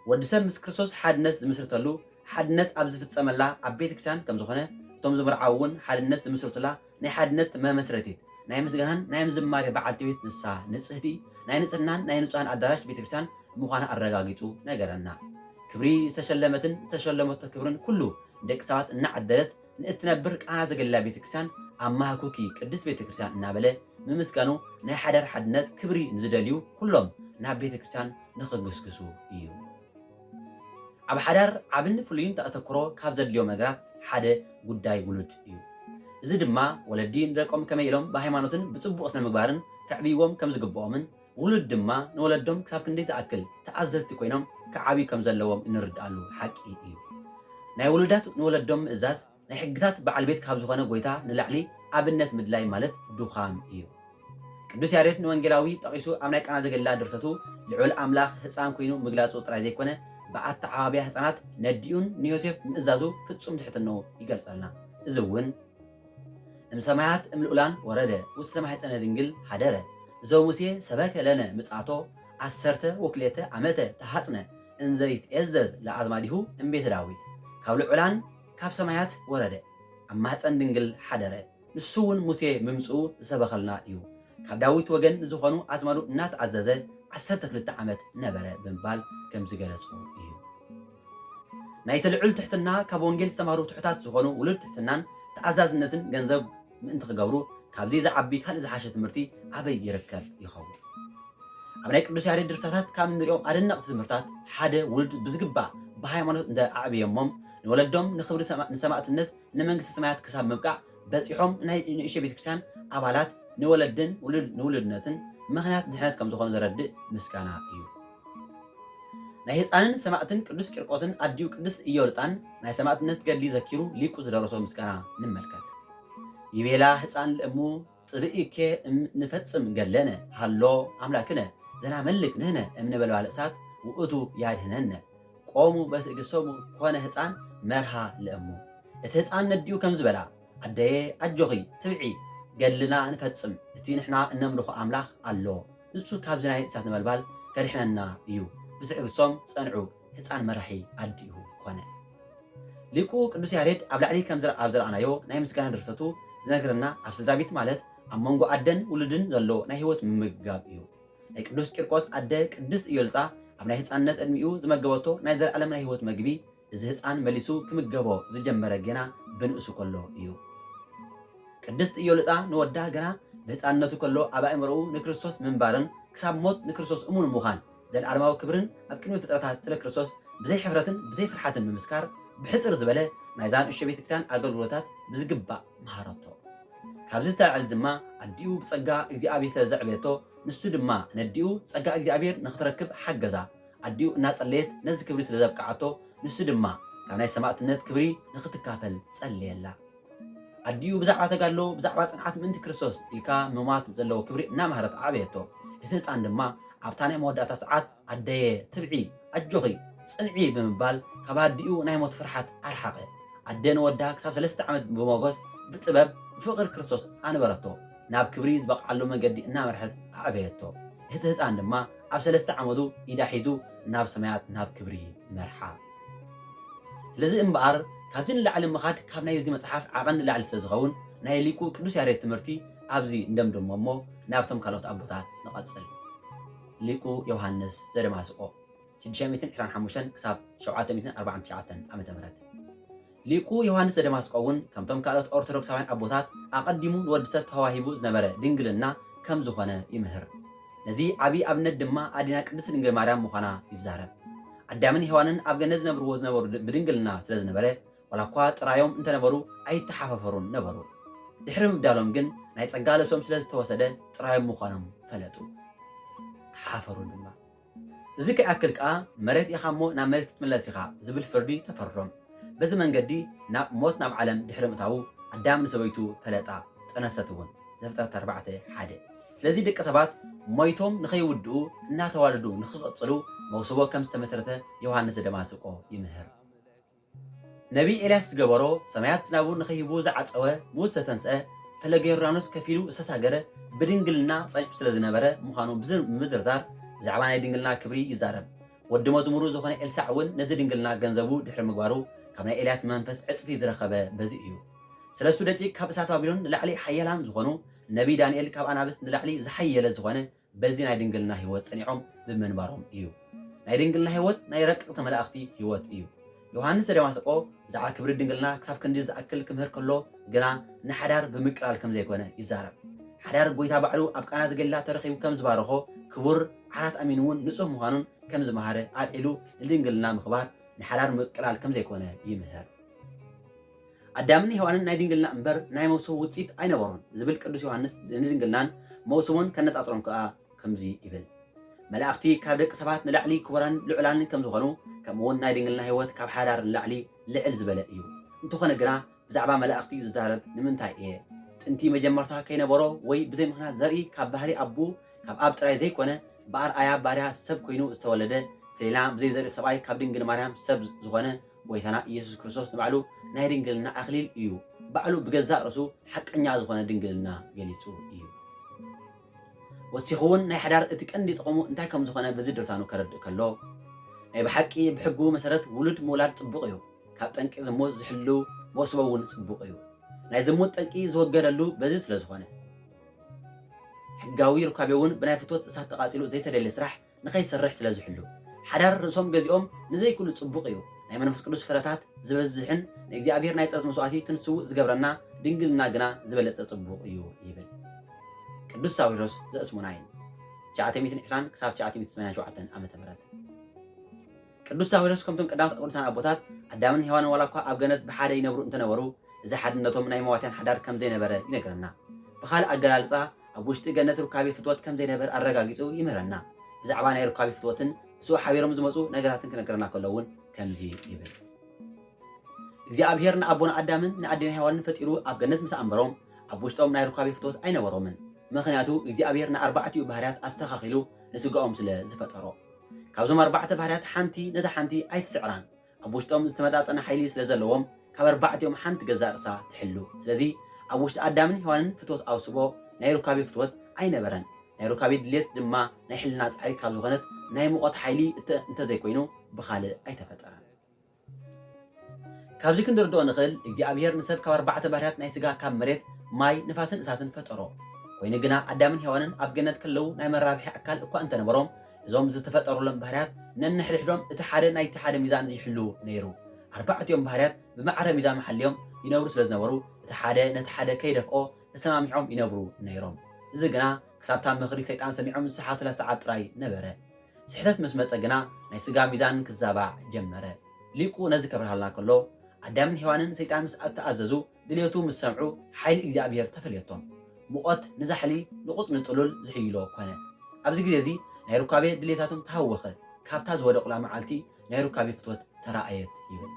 ወዲ ሰብ ምስ ክርስቶስ ሓድነት ዝምስርተሉ ሓድነት ኣብ ዝፍጸመላ ኣብ ቤተ ክርስቲያን ከም ዝኾነ እቶም ዝምርዓዉ እውን ሓድነት ዝምስርቱላ ናይ ሓድነት መመስረቲት ናይ ምስጋናን ናይ ዝማሬ በዓልቲ ቤት ንሳ ንጽህቲ ናይ ንጽህናን ናይ ንጹሃን ኣዳራሽ ቤተ ክርስቲያን ምዃና ኣረጋጊጹ ነገረና። ክብሪ ዝተሸለመትን ዝተሸለመቶ ክብርን ኩሉ ንደቂ ሰባት እናዓደለት ንእትነብር ቃና ዘገሊላ ቤተ ክርስቲያን ኣማህኩኪ ቅድስት ቤተ ክርስቲያን እናበለ ምምስጋኑ ናይ ሓዳር ሓድነት ክብሪ ንዝደልዩ ኩሎም ናብ ቤተ ክርስቲያን ንኽግስግሱ እዩ። ኣብ ሓዳር ዓብን ፍሉይን ተኣተኩሮ ካብ ዘድልዮም ነገራት ሓደ ጉዳይ ውሉድ እዩ። እዚ ድማ ወለዲ ንደቆም ከመይ ኢሎም ብሃይማኖትን ብጽቡቕ ስነ-ምግባርን ከዕብይዎም ከም ዝግብኦምን ውሉድ ድማ ንወለዶም ክሳብ ክንደይ ዝኣክል ተኣዘዝቲ ኮይኖም ክዓብዩ ከም ዘለዎም እንርድኣሉ ሓቂ እዩ። ናይ ውሉዳት ንወለዶም ምእዛዝ ናይ ሕግታት በዓል ቤት ካብ ዝኾነ ጎይታ ንላዕሊ ኣብነት ምድላይ ማለት ዱኻም እዩ። ቅዱስ ያሬድ ንወንጌላዊ ጠቒሱ ኣብ ናይ ቃና ዘገሊላ ድርሰቱ ልዑል ኣምላኽ ህጻን ኩይኑ ምግላጹ ጥራይ ዘይኮነ ብኣተዓባብያ ህጻናት ነዲኡን ንዮሴፍ ምእዛዙ ፍጹም ትሕትንኡ ይገልጸልና። እዚ እውን እም ሰማያት እም ልኡላን ወረደ ውስተ ማኅፀነ ድንግል ኀደረ እዞ ሙሴ ሰበከ ለነ ምጽኣቶ ዓሠርተ ወክልኤተ ዓመተ ተሃጽነ እንዘ ይትዔዘዝ ለኣዝማዲሁ እም ቤተ ዳዊት ካብ ልዑላን ካብ ሰማያት ወረደ፣ ኣብ ማህጸን ድንግል ሓደረ፣ ንሱውን ሙሴ ምምጽኡ ዝሰበኸልና እዩ፣ ካብ ዳዊት ወገን ንዝኾኑ ኣዝማዱ እናተኣዘዘ ዓሰርተ ክልተ ዓመት ነበረ ብምባል ከም ዝገለጾ እዩ። ናይቲ ልዑል ትሕትና ካብ ወንጌል ዝተማህሩ ትሑታት ዝኾኑ ውሉድ ትሕትናን ተኣዛዝነትን ገንዘብ ምእንቲ ክገብሩ ካብዚ ዝዓቢ ካልእ ዝሓሸ ትምህርቲ ኣበይ ይርከብ ይኸውን? ኣብ ናይ ቅዱስ ያሬድ ድርሰታት ካብ እንርእዮም ኣደነቕቲ ትምህርታት ሓደ ውሉድ ብዝግባእ ብሃይማኖት እንተ ኣዕብየሞም ንወለዶም ንኽብሪ ንሰማእትነት ንመንግስቲ ሰማያት ክሳብ ምብቃዕ በጺሖም ናይ ንእሽቶ ቤተ ክርስቲያን ኣባላት ንወለድን ንውሉድነትን ምኽንያት ድሕነት ከም ዝኾኑ ዘረድእ ምስጋና እዩ። ናይ ህፃንን ሰማእትን ቅዱስ ቂርቆስን ኣዲኡ ቅድስት ኢዮልጣን ናይ ሰማእትነት ገድሊ ዘኪሩ ሊቁ ዝደረሶ ምስጋና ንመልከት። ይቤላ ህፃን ለእሙ ጥብኢኬ እም ንፈጽም ገድለነ ሀሎ ኣምላክነ ዘናመልክ ንህነ እም ነበልባል እሳት ውእቱ ያድኅነነ። ቆሙ በትእግሰሙ ኮነ ህፃን መርሃ ለእሙ። እቲ ህፃን ነዲኡ ከምዚ በላ ኣደየ ኣጆኺ ትብዒ ገድልና ንፈጽም እቲ ንሕና እነምልኾ ኣምላኽ ኣሎ ንሱ ካብዚ ናይ እሳት ነበልባል ከድኅነና እዩ። ብትዕግስቶም ጸንዑ። ህጻን መራሒ ኣዲኡ ኮነ። ሊቁ ቅዱስ ያሬድ ኣብ ላዕሊ ከም ዘርኣናዮ ናይ ምስጋና ድርሰቱ ዝነግረና ኣብ ስድራቤት ማለት ኣብ መንጎ ኣደን ውሉድን ዘሎ ናይ ህይወት ምምግጋብ እዩ። ናይ ቅዱስ ቂርቆስ ኣደ ቅድስት እዮልጣ ኣብ ናይ ህጻንነት ዕድሚኡ ዝመገበቶ ናይ ዘልኣለም ናይ ህይወት መግቢ እዚ ህጻን መሊሱ ክምገቦ ዝጀመረ ገና ብንእሱ ከሎ እዩ። ቅድስት እዮልጣ ንወዳ ገና ብህጻንነቱ ከሎ ኣብ ኣእምሮኡ ንክርስቶስ ምንባርን ክሳብ ሞት ንክርስቶስ እሙን ምዃን ዘልኣለማዊ ክብርን ኣብ ቅድሚ ፍጥረታት ስለ ክርስቶስ ብዘይ ሕፍረትን ብዘይ ፍርሓትን ምምስካር ብሕጽር ዝበለ ናይዛ ንእሽቶ ቤተክርስቲያን ኣገልግሎታት ብዝግባእ መሃረቶ። ካብዚ ዝተላዕለ ድማ ኣዲኡ ብጸጋ እግዚኣብሔር ስለ ዘዕበየቶ ንሱ ድማ ነዲኡ ጸጋ እግዚኣብሔር ንክትረክብ ሓገዛ። ኣዲኡ እናጸለየት ነዚ ክብሪ ስለ ዘብቅዓቶ ንሱ ድማ ካብ ናይ ሰማእትነት ክብሪ ንክትካፈል ጸለየላ። ኣዲኡ ብዛዕባ ተጋድሎ፣ ብዛዕባ ጽንዓት ምእንቲ ክርስቶስ ኢልካ ምሟት ዘለዎ ክብሪ እናመሃረት ኣዕበየቶ። እቲ ህጻን ድማ ኣብታ ናይ መወዳእታ ሰዓት ኣደየ ትብዒ፣ ኣጆኺ፣ ጽንዒ ብምባል ካብ ኣዲኡ ናይ ሞት ፍርሓት ኣርሓቐ። ኣደ ንወዳ ክሳብ ሰለስተ ዓመት ብሞጎስ፣ ብጥበብ፣ ብፍቕሪ ክርስቶስ ኣንበረቶ። ናብ ክብሪ ዝበቕዓሉ መንገዲ እናመርሐት ኣዕበየቶ። እቲ ህጻን ድማ ኣብ ሰለስተ ዓመቱ ኢዳ ሒዙ ናብ ሰማያት ናብ ክብሪ መርሓ። ስለዚ እምበኣር ካብዚ ንላዕሊ ምኻድ ካብ ናይ እዚ መጽሓፍ ዓቐን ንላዕሊ ስለ ዝኸውን ናይ ሊቁ ቅዱስ ያሬድ ትምህርቲ ኣብዚ ንደምድሞ እሞ ናብቶም ካልኦት ኣቦታት ንቐጽል። ሊቁ ዮሃንስ ዘደማስቆ፣ ሽዱሽተ ሚእትን ዕስራን ሓሙሽተን ክሳብ ሸውዓተ ሚእትን ኣርባዓን ትሽዓተን ዓመተ ምህረት፣ ሊቁ ዮሃንስ ዘደማስቆ'ውን ከምቶም ካልኦት ኦርቶዶክሳውያን ኣቦታት ኣቐዲሙ ንወዲ ሰብ ተዋሂቡ ዝነበረ ድንግልና ከም ዝኾነ ይምህር። ነዚ ዓቢ ኣብነት ድማ ኣዴና ቅድስት ድንግል ማርያም ምዃና ይዛረብ። ኣዳምን ሄዋንን ኣብ ገነት ዝነብርዎ ዝነበሩ ብድንግልና ስለ ዝነበረ ዋላኳ ጥራዮም እንተ ነበሩ ኣይተሓፈፈሩን ነበሩ። ድሕሪ ምብዳሎም ግን ናይ ጸጋ ልብሶም ስለ ዝተወሰደ ጥራዮም ምዃኖም ፈለጡ። ሓፈሩ ድማ። እዚ ከይኣክል ከኣ መሬት ኢኻ እሞ ናብ መሬት ክትምለስ ኢኻ ዝብል ፍርዲ ተፈርዶም። በዚ መንገዲ ናብ ሞት ናብ ዓለም ድሕሪ ምእታዉ ኣዳም ንሰበይቱ ፈለጣ፣ ጠነሰት እውን። ዘፍጥረት ኣርባዕተ ሓደ። ስለዚ ደቂ ሰባት ሞይቶም ንኸይውድኡ እናተዋለዱ ንኽቕጽሉ መውስቦ ከም ዝተመስረተ ዮሃንስ ዘደማስቆ ይምህር። ነቢይ ኤልያስ ዝገበሮ፣ ሰማያት ዝናቡ ንኺህቡ ዝዓጸወ፣ ምዉት ዘተንስአ፣ ፈለገ ዮርዳኖስ ከፊሉ ዝተሳገረ፣ ብድንግልና ጸኒሑ ስለ ዝነበረ ምዃኑ ብምዝርዛር ብዛዕባ ናይ ድንግልና ክብሪ ይዛረብ። ወዲ መዝሙሩ ዝዀነ ኤልሳዕ እውን ነዚ ድንግልና ገንዘቡ ድሕሪ ምግባሩ ካብ ናይ ኤልያስ መንፈስ ዕጽፊ ዝረኸበ በዚ እዩ። ሰለስቱ ደቂቅ ካብ እሳት ባቢሎን ንላዕሊ ሓያላን ዝዀኑ፣ ነቢይ ዳንኤል ካብ ኣናብስ ንላዕሊ ዝሓየለ ዝዀነ፣ በዚ ናይ ድንግልና ሕይወት ጸኒዖም ብምንባሮም እዩ። ናይ ድንግልና ሕይወት ናይ ረቀቅቲ መላእኽቲ ሕይወት እዩ። ዮሓንስ ዘደማስቆ ብዛዕባ ክብሪ ድንግልና ክሳብ ክንዲ ዝኣክል ክምህር ከሎ ግና ንሓዳር ብምቅላል ከም ዘይኮነ ይዛረብ። ሓዳር ጐይታ ባዕሉ ኣብ ቃና ዘገሊላ ተረኺቡ ከም ዝባረኾ ክቡር ዓራት ኣሚኑ እውን ንጹህ ምዃኑን ከም ዝመሃረ ኣልዒሉ ንድንግልና ምኽባር ንሓዳር ምቅላል ከም ዘይኮነ ይምህር። ኣዳምን ሄዋንን ናይ ድንግልና እምበር ናይ መውስቦ ውጽኢት ኣይነበሩን ዝብል ቅዱስ ዮሃንስ ንድንግልናን መውስቦን ከነጻጽሮም ከኣ ከምዚ ይብል መላእኽቲ ካብ ደቂ ሰባት ንላዕሊ ክቡራንን ልዑላንን ከም ዝኾኑ ከምኡውን ናይ ድንግልና ሕይወት ካብ ሓዳር ንላዕሊ ልዕል ዝበለ እዩ። እንተኾነ ግና ብዛዕባ መላእኽቲ ዝዛረብ ንምንታይ እየ? ጥንቲ መጀመርታ ከይነበሮ ወይ ብዘይ ምኽንያት ዘርኢ ካብ ባህሪ ኣቡኡ ካብ ኣብ ጥራይ ዘይኮነ ብኣርኣያ ባርያ ሰብ ኮይኑ ዝተወለደ ሰሌና ብዘይ ዘርኢ ሰብኣይ ካብ ድንግል ማርያም ሰብ ዝኾነ ጎይታና ኢየሱስ ክርስቶስ ንባዕሉ ናይ ድንግልና ኣክሊል እዩ ባዕሉ ብገዛእ ርእሱ ሓቀኛ ዝኾነ ድንግልና ገሊጹ እዩ። ወሲኹውን ናይ ሓዳር እቲ ቀንዲ ጥቕሙ እንታይ ከም ዝኾነ በዚ ድርሳኑ ከረድእ ከሎ ናይ ብሓቂ ብሕጉ መሰረት ውሉድ ምውላድ ጽቡቕ እዩ፣ ካብ ጠንቂ ዝሙት ዝሕሉ መውስቦ እውን ጽቡቕ እዩ፣ ናይ ዝሙት ጠንቂ ዝወገደሉ በዚ ስለ ዝኾነ። ሕጋዊ ሩካቤውን ብናይ ፍትወት እሳት ተቓጺሉ ዘይተደልየ ስራሕ ንከይሰርሕ ስለ ዝሕሉ ሓዳር ርእሶም ገዚኦም ንዘይክሉ ጽቡቅ እዩ ናይ መንፈስ ቅዱስ ፍረታት ዝበዝሕን ንእግዚኣብሔር ናይ ጸሎት መስዋእቲ ክንስውእ ዝገብረና ድንግልና ግና ዝበለጸ ጽቡቅ እዩ ይብል ቅዱስ ሳዊሮስ ዘእስሙናይን ትሽዓተ ሚእትን ዕስራን ክሳብ ትሽዓተ ሚእትን ሰማንያን ሸውዓተን ዓመተ ምህረት። ቅዱስ ሳዊሮስ ከምቶም ቀዳሞት ቅዱሳን ኣቦታት ኣዳምን ሄዋንን ዋላ እኳ ኣብ ገነት ብሓደ ይነብሩ እንተነበሩ እዚ ሓድነቶም ናይ መዋቲያን ሓዳር ከም ዘይነበረ ይነግረና። ብኻልእ ኣገላልጻ ኣብ ውሽጢ ገነት ሩካቤ ፍትወት ከም ዘይነበር ኣረጋጊጹ ይምህረና። ብዛዕባ ናይ ሩካቤ ፍትወትን ምስኡ ሓቢሮም ዝመጹ ነገራትን ክነግረና ከሎ እውን ከምዚ ይብል። እግዚኣብሄር ንኣቦና ኣዳምን ንኣዴና ሄዋንን ፈጢሩ ኣብ ገነት ምስ ኣንበሮም ኣብ ውሽጦም ናይ ሩካቤ ፍትወት ኣይነበሮምን። ምኽንያቱ እግዚኣብሄር ንኣርባዕቲኡ ባህርያት ኣስተኻኺሉ ንስጋኦም ስለ ዝፈጠሮ። ካብዞም ኣርባዕተ ባህርያት ሓንቲ ነታ ሓንቲ ኣይትስዕራን። ኣብ ውሽጦም ዝተመጣጠነ ሓይሊ ስለ ዘለዎም ካብ ኣርባዕቲኦም ሓንቲ ገዛእ ርእሳ ትሕሉ። ስለዚ ኣብ ውሽጢ ኣዳምን ሄዋንን ፍትወት ኣውስቦ ናይ ሩካቤ ፍትወት ኣይነበረን። ናይ ሩካቤ ድልየት ድማ ናይ ሕልና ጻዕሪ ካብ ዝኾነት ናይ ሙቐት ሓይሊ እንተ ዘይኮይኑ ብኻልእ ኣይተፈጠረን። ካብዚ ክንርድኦ ንኽእል እግዚኣብሄር ንሰብ ካብ ኣርባዕተ ባህርያት ናይ ስጋ ካብ መሬት፣ ማይ፣ ንፋስን እሳትን ፈጠሮ። ኮይኑ ግና ኣዳምን ሄዋንን ኣብ ገነት ከለዉ ናይ መራብሒ ኣካል እኳ እንተነበሮም እዞም ዝተፈጠሩሎም ባህርያት ነንሕድሕዶም እቲ ሓደ ናይቲ ሓደ ሚዛን ይሕልዉ ነይሩ። ኣርባዕቲኦም ባህርያት ብማዕረ ሚዛኖም ሓልዮም ይነብሩ ስለ ዝነበሩ እቲ ሓደ ነቲ ሓደ ከይደፍኦ ተሰማሚዖም ይነብሩ ነይሮም። እዚ ግና ክሳብታ ምኽሪ ሰይጣን ሰሚዖም ዝሰሓቱላ ሰዓት ጥራይ ነበረ። ስሕተት ምስ መጸ ግና ናይ ስጋ ሚዛን ክዛባዕ ጀመረ። ሊቁ ነዚ ከብርሃልና ከሎ ኣዳምን ሄዋንን ሰይጣን ምስ ኣተኣዘዙ ድልየቱ ምስ ሰምዑ ሓይሊ እግዚኣብሔር ተፈልየቶም። ሙቐት ንዛሕሊ ንቑጽ ንጥሉል ዝሕይሎ ኮነ። ኣብዚ ግዜ እዚ ናይ ሩካቤ ድልየታቶም ተሃወኸ፣ ካብታ ዝወደቑላ መዓልቲ ናይ ሩካቤ ፍትወት ተራእየት ይብል።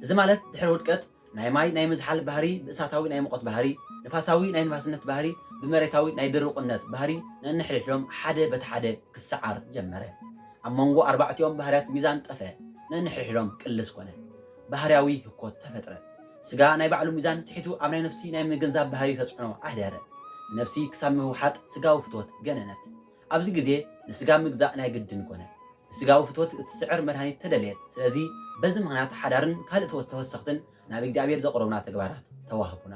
እዚ ማለት ድሕሪ ውድቀት ናይ ማይ ናይ ምዝሓል ባህሪ ብእሳታዊ ናይ ሙቐት ባህሪ፣ ንፋሳዊ ናይ ንፋስነት ባህሪ፣ ብመሬታዊ ናይ ድሩቕነት ባህሪ ነንሕድሕዶም ሓደ በቲ ሓደ ክሰዓር ጀመረ። ኣብ መንጎ ኣርባዕቲኦም ባህርያት ሚዛን ጠፈእ፣ ነንሕድሕዶም ቅልስ ኮነ። ባህርያዊ ህኮት ተፈጥረ። ስጋ ናይ ባዕሉ ሚዛን ስሒቱ ኣብ ናይ ነፍሲ ናይ ምግንዛብ ባህሪ ተጽዕኖ ኣሕደረ። ንነፍሲ ክሳብ ምውሓጥ ስጋዊ ፍትወት ገነነት። ኣብዚ ግዜ ንስጋ ምግዛእ ናይ ግድን ኮነ። ንስጋዊ ፍትወት እትስዕር መድሃኒት ተደልየት። ስለዚ በዚ ምኽንያት ሓዳርን ካልእ ተወሰተወሰኽትን ናብ እግዚኣብሔር ዘቕርቡና ተግባራት ተዋህቡና።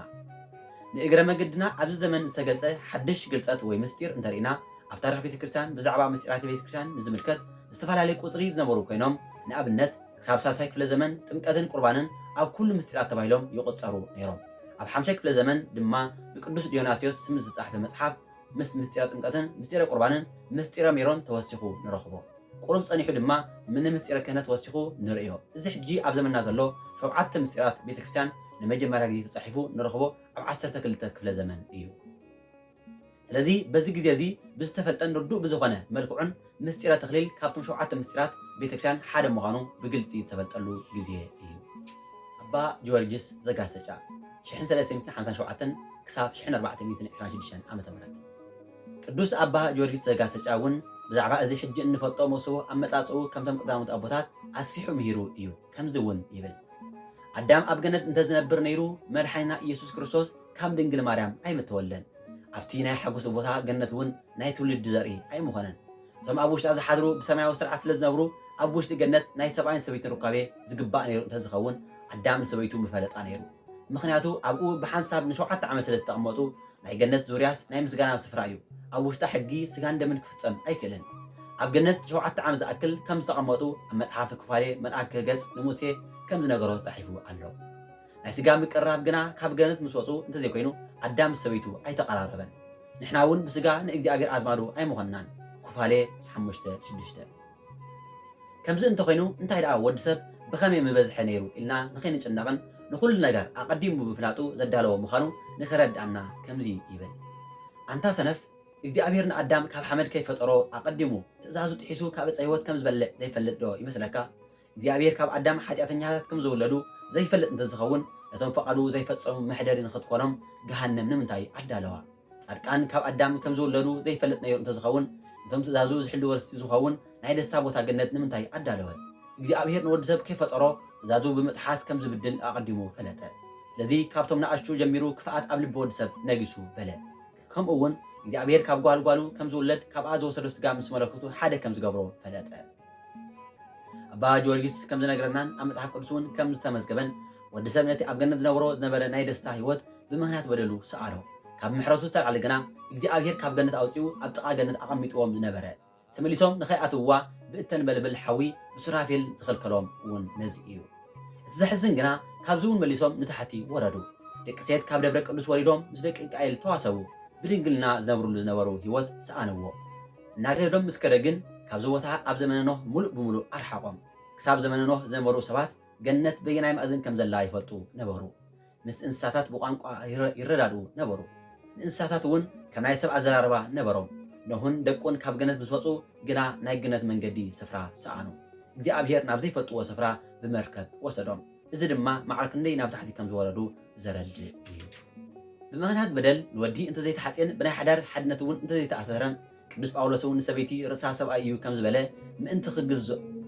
ንእግረ መገድና ኣብዚ ዘመን ዝተገልጸ ሓድሽ ግልጸት ወይ ምሥጢር እንተርኢና ኣብ ታሪኽ ቤተ ክርስቲያን ብዛዕባ ምሥጢራተ ቤተ ክርስቲያን ንዝምልከት ዝተፈላለየ ቁጽሪ ዝነበሩ ኮይኖም ንኣብነት ክሳብ ሳልሳይ ክፍለ ዘመን ጥምቀትን ቁርባንን ኣብ ኩሉ ምሥጢራት ተባሂሎም ይቑጸሩ ነይሮም ኣብ ሓምሻይ ክፍለ ዘመን ድማ ብቅዱስ ዲዮናስዮስ ስም ዝተጻሕፈ መጽሓፍ ምስ ምስጢረ ጥምቀትን ምስጢረ ቁርባንን ምስጢረ ሜሮን ተወሲኹ ንረኽቦ። ቁሩብ ጸኒሑ ድማ ምነ ምስጢረ ክህነት ወሲኹ ንርእዮ። እዚ ሕጂ ኣብ ዘመንና ዘሎ ሾብዓተ ምስጢራት ቤተ ክርስቲያን ንመጀመርያ ግዜ ተጻሒፉ ንረኽቦ ኣብ ዓሰርተ ክልተ ክፍለ ዘመን እዩ። ስለዚ በዚ ግዜ እዚ ብዝተፈልጠን ርዱእ ብዝኾነ መልክዑን ምስጢረ ተክሊል ካብቶም ሸውዓተ ምስጢራት ቤተክርስቲያን ሓደ ምዃኑ ብግልፂ ዝተፈልጠሉ ግዜ እዩ። ኣባ ጊዮርጊስ ዘጋሰጫ ሽሕን ሰለስተ ሚእትን ሓምሳን ሸውዓተን ክሳብ ሽሕን ኣርባዕተ ሚእትን ዕስራን ሽዱሽተን ዓመተ ምህረት ቅዱስ ኣባ ጊዮርጊስ ዘጋሰጫ እውን ብዛዕባ እዚ ሕጂ እንፈልጦ መሶቡ ኣመፃፅኡ ከምቶም ቀዳሞት ኣቦታት ኣስፊሑ ምሂሩ እዩ። ከምዚ እውን ይብል፣ ኣዳም ኣብ ገነት እንተ ዚነብር ነይሩ፣ መድሓኒና ኢየሱስ ክርስቶስ ካብ ድንግል ማርያም ኣይምተወልደን። ኣብቲ ናይ ሓጐሱ ቦታ ገነት እውን ናይ ትውልዲ ዘርኢ ኣይምኾነን። እቶም ኣብ ውሽጣ ዚሓድሩ ብሰማያዊ ስርዓት ስለ ዚነብሩ፣ ኣብ ውሽጢ ገነት ናይ ሰብኣይን ሰበይትን ሩካቤ ዚግባእ ነይሩ እንተ ዚኸውን፣ ኣዳም ንሰበይቱ ምፈለጣ ነይሩ። ምኽንያቱ ኣብኡ ብሓንሳብ ንሸውዓተ ዓመት ስለ ዝተቐመጡ፣ ናይ ገነት ዙርያስ ናይ ምስጋና ስፍራ እዩ። ኣብ ውሽጣ ሕጊ ስጋን ደምን ክፍጸም ኣይክእልን። ኣብ ገነት ሸውዓተ ዓመት ዝኣክል ከም ዝተቐመጡ ኣብ መጽሓፈ ኩፋሌ መልኣክ ክህገጽ ንሙሴ ከም ዝነገሮ ጸሒፉ ኣሎ። ናይ ስጋ ምቅርራብ ግና ካብ ገነት ምስ ወጹ እንተዘይኮይኑ ኣዳም ምስ ሰበይቱ ኣይተቐራረበን። ንሕና እውን ብስጋ ንእግዚኣብሔር ኣዝማዱ ኣይምኾንናን። ኩፋሌ ሓሙሽተ ሽዱሽተ። ከምዚ እንተ ዀይኑ፣ እንታይ ደኣ ወዲ ሰብ ብኸመይ ምበዝሐ ነይሩ ኢልና ንኸይንጭነቕን ንዅሉ ነገር ኣቐዲሙ ብምፍላጡ ዘዳለዎ ምዃኑ ንኸረድኣና ከምዚ ይብል፣ ኣንታ ሰነፍ፣ እግዚኣብሄር ንኣዳም ካብ ሓመድ ከይፈጠሮ ኣቐዲሙ ትእዛዙ ጥሒሱ ካብ ዕፀ ህይወት ከም ዝበልዕ ዘይፈልጥዶ ይመስለካ? እግዚኣብሄር ካብ ኣዳም ሓጢኣተኛታት ከም ዝውለዱ ዘይፈልጥ እንተ ዝኸውን ነቶም ፍቓዱ ዘይፈጸሙ መሕደሪ ንኽትኰኖም ገሃነም ንምንታይ ኣዳለዋ? ጻድቃን ካብ ኣዳም ከም ዝውለዱ ዘይፈልጥ ነይሩ እንተ ዝኸውን፣ ነቶም ትእዛዙ ዝሕልዉ ርስቲ ዝኸውን ናይ ደስታ ቦታ ገነት ንምንታይ ኣዳለወ? እግዚኣብሄር ንወዲ ሰብ ከይፈጠሮ ትእዛዙ ብምጥሓስ ከም ዝብድል ኣቐዲሙ ፈለጠ። ስለዚ ካብቶም ንኣሽቱ ጀሚሩ ክፍኣት ኣብ ልቢ ወዲ ሰብ ነጊሱ በለ። ከምኡ'ውን እግዚኣብሄር ካብ ጓል ጓሉ ከም ዝውለድ ካብኣ ዝወሰዶ ስጋ ምስ መለኮቱ ሓደ ከም ዝገብሮ ፈለጠ። ኣባ ጊዮርጊስ ከም ዝነግረናን ኣብ መጽሓፍ ቅዱስ እውን ከም ዝተመዝገበን ወዲ ሰብ ነቲ ኣብ ገነት ዝነብሮ ዝነበረ ናይ ደስታ ህይወት ብምኽንያት በደሉ ሰኣኖ። ካብ ምሕረቱ ዝተላዕለ ግና እግዚኣብሄር ካብ ገነት ኣውጺኡ ኣብ ጥቓ ገነት ኣቐሚጥዎም ዝነበረ ተመሊሶም ንኸይኣትውዋ ብእተንበልብል ሓዊ ብሱራፌል ዝኸልከሎም እውን ነዚ እዩ። እቲ ዘሕዝን ግና ካብዚ እውን መሊሶም ንታሕቲ ወረዱ። ደቂ ሴት ካብ ደብረ ቅዱስ ወሪዶም ምስ ደቂ እንቃኤል ተዋሰቡ፣ ብድንግልና ዝነብርሉ ዝነበሩ ህይወት ሰኣንዎ። እናገደዶም ምስ ከደ ግን ካብዚ ቦታ ኣብ ዘመነ ኖህ ምሉእ ብምሉእ ኣርሓቖም። ክሳብ ዘመነ ኖህ ዝነበሩ ሰባት ገነት በየናይ ማእዝን ከም ዘላ ይፈልጡ ነበሩ። ምስቲ እንስሳታት ብቋንቋ ይረዳድኡ ነበሩ። ንእንስሳታት እውን ከም ናይ ሰብ ኣዘራርባ ነበሮም። ኖህን ደቁን ካብ ገነት ምስ ወጹ ግና ናይ ግነት መንገዲ ስፍራ ሰኣኑ። እግዚኣብሄር ናብ ዘይፈልጥዎ ስፍራ ብመርከብ ወሰዶም። እዚ ድማ ማዕረ ክንደይ ናብ ታሕቲ ከም ዝወረዱ ዘረድእ እዩ። ብምኽንያት በደል ንወዲ እንተ ዘይተሓጽየን ብናይ ሓዳር ሓድነት እውን እንተ ዘይተኣሰረን፣ ቅዱስ ጳውሎስ እውን ንሰበይቲ ርእሳ ሰብኣይ እዩ ከም ዝበለ፣ ምእንቲ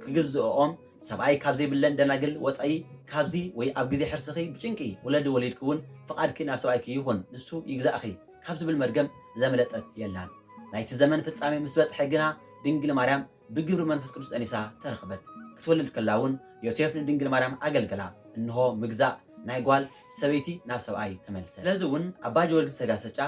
ክግዝእኦም ሰብኣይ ካብ ዘይብለን ደናግል ወጻኢ ካብዚ ወይ ኣብ ግዜ ሕርስኺ ብጭንቂ ውለዲ ወሊድኪ እውን ፍቓድኪ ናብ ሰብኣይኪ ይኹን ንሱ ይግዛእኺ ካብ ዝብል መርገም ዘመለጠት የላን። ናይቲ ዘመን ፍጻሜ ምስ በጽሐ ግና ድንግል ማርያም ብግብሪ መንፈስ ቅዱስ ጠኒሳ ተረኽበት። ክትወልድ ከላ እውን ዮሴፍ ንድንግል ማርያም ኣገልገላ፣ እንሆ ምግዛእ ናይ ጓል ሰበይቲ ናብ ሰብኣይ ተመልሰ። ስለዚ እውን ኣባ ጀወርግስ ዘጋሰጫ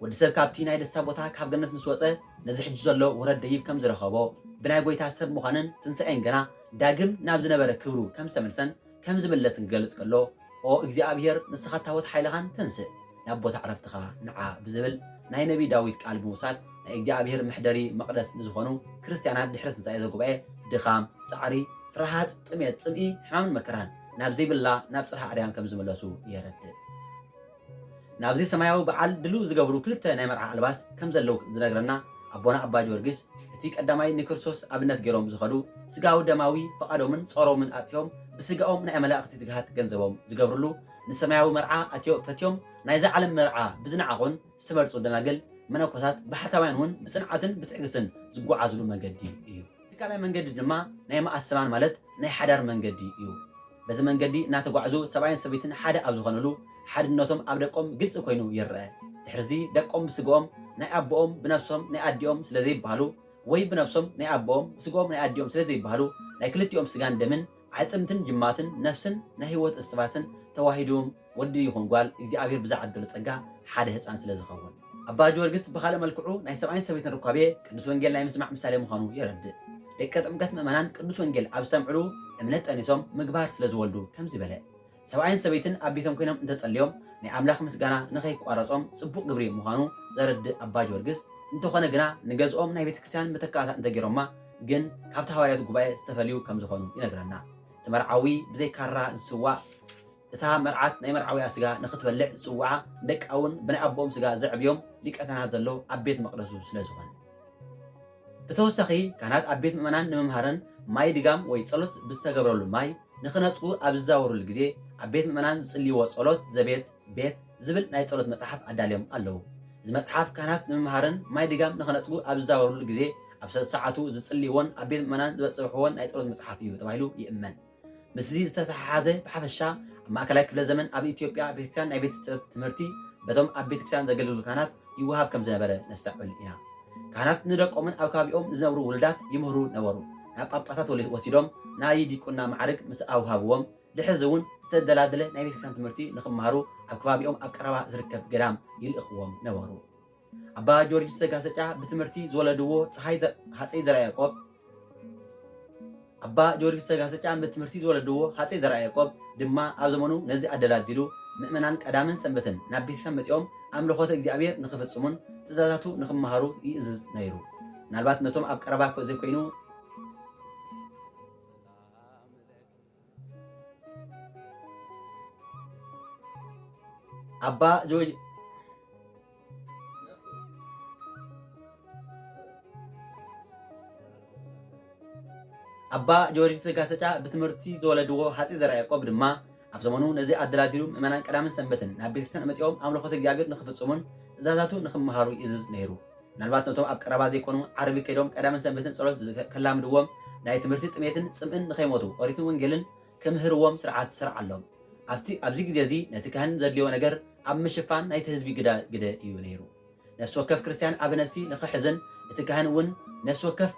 ወዲ ሰብ ካብቲ ናይ ደስታ ቦታ ካብ ገነት ምስ ወጸ ነዚ ሕጂ ዘሎ ውረድ ደይብ ከም ዝረኸቦ ብናይ ጐይታ ሰብ ምዃንን ትንሣኤን ገና ዳግም ናብ ዝነበረ ክብሩ ከም ዝተመልሰን ከም ዝምለስን ክገልጽ ከሎ፣ ኦ እግዚኣብሄር ንስኻ ታቦት ሓይልኻን ተንሥእ፣ ናብ ቦታ ዕረፍትኻ ንዓ ብዝብል ናይ ነቢይ ዳዊት ቃል ብምውሳድ ናይ እግዚኣብሄር መሕደሪ መቕደስ ንዝኾኑ ክርስትያናት ድሕሪ ትንሣኤ ዘጉባኤ ድኻም፣ ጻዕሪ፣ ረሃጽ፣ ጥሜት፣ ጽምኢ፣ ሕማምን መከራን ናብ ዘይብላ ናብ ጽርሃ ኣርያም ከም ዝምለሱ የረድእ። ናብዚ ሰማያዊ በዓል ድልው ዝገብሩ ክልተ ናይ መርዓ ኣልባስ ከም ዘለዉ ዝነግረና ኣቦና ኣባ ጊዮርጊስ እቲ ቀዳማይ ንክርስቶስ ኣብነት ገይሮም ዝኸዱ ስጋዊ ደማዊ ፍቓዶምን ጾሮምን ኣጥፊኦም ብስጋኦም ናይ ኣመላእኽቲ ትግሃት ገንዘቦም ዝገብርሉ ንሰማያዊ መርዓ ኣትዮ ፈትዮም ናይዛ ዓለም መርዓ ብዝነዓቑን ዝተመርጹ ደናግል መነኮሳት ባሕታውያን እውን ብጽንዓትን ብትዕግስትን ዝጎዓዝሉ መንገዲ እዩ። እቲ ካልኣይ መንገዲ ድማ ናይ መኣሰባን ማለት ናይ ሓዳር መንገዲ እዩ። በዚ መንገዲ እናተጓዕዙ ሰብኣይን ሰበይትን ሓደ ኣብ ዝኾኑሉ ሓድነቶም ኣብ ደቆም ግልፂ ኮይኑ ይረኣ። ድሕሪዚ ደቆም ብስገኦም ናይ ኣቦኦም ብነብሶም ናይ ኣዲኦም ስለዘይበሃሉ ወይ ብነብሶም ናይ ኣቦኦም ብስገኦም ናይ ኣዲኦም ስለዘይበሃሉ ናይ ክልቲኦም ስጋን ደምን ኣዕጽምትን ጅማትን ነፍስን ናይ ህይወት እስትባስን ተዋሂዱም ወዲ ይኹን ጓል እግዚኣብሔር ብዝዓደሎ ጸጋ ሓደ ህጻን ስለ ዝኸውን። ኣባ ጊወርግስ ብኻልእ መልክዑ ናይ ሰብኣይን ሰበይትን ርኳቤ ቅዱስ ወንጌል ናይ ምስማዕ ምሳሌ ምዃኑ የረድእ። ደቀ ጥምቀት ምእመናን ቅዱስ ወንጌል ኣብ ዝሰምዕሉ እምነት ጠኒሶም ምግባር ስለ ዝወልዱ ከምዚ በለ ሰብኣይን ሰበይትን ኣብ ቤቶም ኮይኖም እንተጸልዮም ናይ ኣምላኽ ምስጋና ንኸይቋረጾም ጽቡቕ ግብሪ ምዃኑ ዘረድእ ኣባ ጊዮርጊስ፣ እንተኾነ ግና ንገዝኦም ናይ ቤተ ክርስቲያን መተካእታ እንተገይሮማ ግን ካብቲ ሃዋርያት ጉባኤ ዝተፈልዩ ከም ዝኾኑ ይነግረና። እቲ መርዓዊ ብዘይ ካራ ዝስዋእ፣ እታ መርዓት ናይ መርዓዊኣ ስጋ ንኽትበልዕ ዝጽውዓ፣ ንደቃ'ውን ብናይ ኣቦኦም ስጋ ዘዕብዮም ሊቀ ካህናት ዘሎ ኣብ ቤት መቕደሱ ስለ ዝኾነ። ብተወሳኺ ካህናት ኣብ ቤት ምእመናን ንምምሃርን ማይ ድጋም ወይ ጸሎት ብዝተገብረሉ ማይ፣ ንኽነጽጉ ኣብ ዝዛወሩሉ ግዜ ኣብ ቤት ምእመናን ዝጽልይዎ ጸሎት ዘቤት፣ ቤት፣ ዝብል ናይ ጸሎት መጽሓፍ ኣዳልዮም ኣለዉ። እዚ መጽሓፍ ካህናት ንምምሃርን ማይ ድጋም ንኽነጽጉ ኣብ ዝዛወሩሉ ግዜ ኣብ ሰሰዓቱ ዝጽልይዎን ኣብ ቤት ምእመናን ዝበጽብሕዎን ናይ ጸሎት መጽሓፍ እዩ ተባሂሉ ይእመን። ምስዚ ዝተተሓሓዘ ብሓፈሻ ኣብ ማእከላይ ክፍለ ዘመን ኣብ ኢትዮጵያ ቤተክርስቲያን ናይ ቤተ ትምህርቲ በቶም ኣብ ቤተክርስቲያን ዘገልግሉ ካህናት ይወሃብ ከም ዝነበረ ነስተዕዕል ኢና። ካህናት ንደቆምን ኣብ ከባቢኦም ንዝነብሩ ውሉዳት ይምህሩ ነበሩ። ናብ ጳጳሳት ወሲዶም ናይ ዲቁና መዓርግ ምስ ኣውሃብዎም ድሕርዚ እውን ዝተደላደለ ናይ ቤተ ክርስቲያን ትምህርቲ ንኽመሃሩ ኣብ ከባቢኦም ኣብ ቀረባ ዝርከብ ገዳም ይልእኽዎም ነበሩ። ኣባ ጀወርጅስ ዘጋሰጫ ብትምህርቲ ዝወለድዎ ጸሓይ ሃጸይ ዘርኣያዕቆብ፣ ኣባ ጊዮርጊስ ዘጋስጫን ብትምህርቲ ዝወለድዎ ሃጸይ ዘርኣያቆብ ድማ ኣብ ዘመኑ ነዚ ኣደላዲሉ፣ ምእመናን ቀዳምን ሰንበትን ናብ ቤተክርስትያን መጺኦም ኣምልኾተ እግዚኣብሔር ንኽፍጽሙን ትእዛዛቱ ንኽመሃሩ ይእዝዝ ነይሩ። ምናልባት ነቶም ኣብ ቀረባ ዘይኮይኑ፣ ኣባ ጆርጅ ኣባ ጆርጅ ስጋሰጫ ብትምህርቲ ዝወለድዎ ሃፂ ዘርዓ ያዕቆብ ድማ ኣብ ዘመኑ ነዚ ኣደላዲሉ ምእመናን ቀዳምን ሰንበትን ናብ ቤተክርስትያን መፂኦም ኣምልኾተ እግዚኣብሔር ንክፍፅሙን ትእዛዛቱ ንክመሃሩ ይእዝዝ ነይሩ። ምናልባት ነቶም ኣብ ቀረባ ዘይኮኑ ዓርቢ ከይዶም ቀዳምን ሰንበትን ጸሎት ከላምድዎም ናይ ትምህርቲ ጥሜትን ጽምእን ንኸይሞቱ ኦሪትን ወንጌልን ክምህርዎም ስርዓት ስርዓሎም። ኣብቲ ኣብዚ ግዜ እዚ ነቲ ካህን ዘድልዮ ነገር ኣብ ምሽፋን ናይቲ ህዝቢ ግዳ ግደ እዩ ነይሩ። ነፍሲ ወከፍ ክርስትያን ኣብ ነፍሲ ንኽሕዝን እቲ ካህን እውን ነፍሲ ወከፍ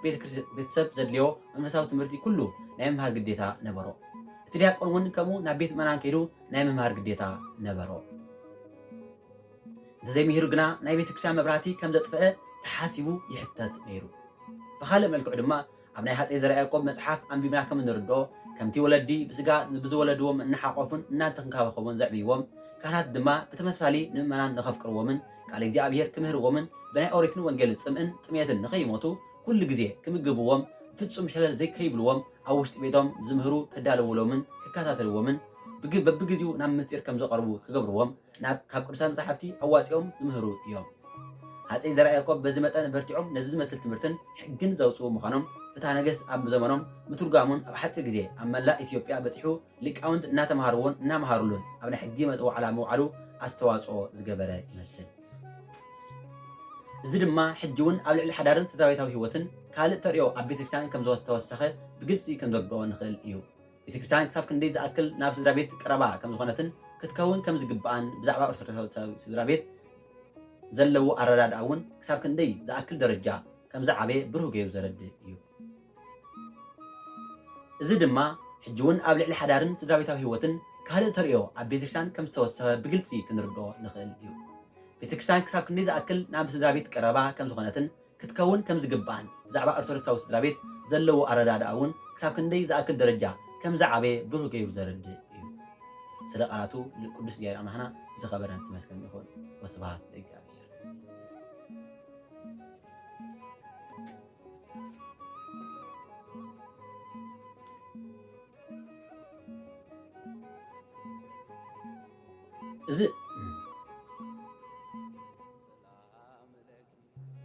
ቤተሰብ ዘድልዮ መንፈሳዊ ትምህርቲ ኩሉ ናይ ምምሃር ግዴታ ነበሮ። እቲ ዲያቆን እውን ከምኡ ናብ ቤት ምእመናን ከይዱ ናይ ምምሃር ግዴታ ነበሮ። እንተዘይ ምሂሩ ግና ናይ ቤተክርስቲያን መብራህቲ ከም ዘጥፈኣ ተሓሲቡ ይሕተት ነይሩ። ብኻልእ መልክዑ ድማ ኣብ ናይ ሃጸይ ዘርኣያቆብ መጽሓፍ ኣንቢብና ከም እንርድኦ ከምቲ ወለዲ ብስጋ ብዝወለድዎም እናሓቆፉን እናተንከባኸቡን ዘዕብይዎም ካህናት ድማ ብተመሳሳሊ ንምእመናን ንኸፍቅርዎምን ቃል እግዚኣብሔር ክምህርዎምን ብናይ ኦሪትን ወንጌልን ጽምእን ጥምየትን ንኸይሞቱ ኩሉ ግዜ ክምግብዎም ፍጹም ሸለል ዘይከይብልዎም ኣብ ውሽጢ ቤቶም ዝምህሩ ከዳልውሎምን ክከታተልዎምን በብግዚኡ ናብ ምስጢር ከም ዘቐርቡ ክገብርዎም ናብ ካብ ቅዱሳን መጻሕፍቲ ኣዋጺኦም ዝምህሩ እዮም። ሃጸይ ዘርኣያቆብ በዚ መጠን ኣበርቲዖም ነዚ ዝመስል ትምህርትን ሕግን ዘውጽኡ ምዃኖም ፍትሃ ነገስት ኣብ ዘመኖም ምትርጓሙን ኣብ ሓጺር ግዜ ኣብ መላእ ኢትዮጵያ በጺሑ ሊቃውንት እናተመሃርዎን እናመሃሩሉን ኣብ ናይ ሕጊ ዋዕላ ምውዓሉ ኣስተዋጽኦ ዝገበረ ይመስል። እዚ ድማ ሕጂውን ኣብ ልዕሊ ሓዳርን ስድራቤታዊ ሕይወትን ካልእ ተርእዮ ኣብ ቤተክርስቲያን ከምዘተወሰኸ ብግልጺ ክንርድኦ ንኽእል እዩ። ቤተክርስትያን ክሳብ ክንደይ ዝኣክል ናብ ስድራ ቤት ቀረባ ከም ዝኾነትን ክትከውን ከም ዝግብኣን ብዛዕባ ኦርቶዶክሳዊ ስድራ ቤት ዘለዎ ኣረዳድኣ እውን ክሳብ ክንደይ ዝኣክል ደረጃ ከም ዝዓበየ ብሩህ ገይሩ ዘረድእ እዩ። እዚ ድማ ሕጂ እውን ኣብ ልዕሊ ሓዳርን ስድራቤታዊ ህይወትን ካልእ ተርእዮ ኣብ ቤተክርስትያን ከም ዝተወሰኸ ብግልጺ ክንርድኦ ንኽእል እዩ። ቤተክርስትያን ክሳብ ክንደይ ዝኣክል ናብ ስድራ ቤት ቀረባ ከም ዝኾነትን ክትከውን ከም ዝግብኣን ብዛዕባ ኦርቶዶክሳዊ ስድራ ቤት ዘለዎ ኣረዳድኣ እውን ክሳብ ክንደይ ዝኣክል ደረጃ ከም ዝዓበየ ብሩህ ገይሩ ዘረድእ እዩ። ስለ ቃላቱ ንቅዱስ እግዚኣብሔር ኣምላኽና ዝኸበረን ዝመስገን ይኹን። ወስብሃት ለእግዚኣብሔር።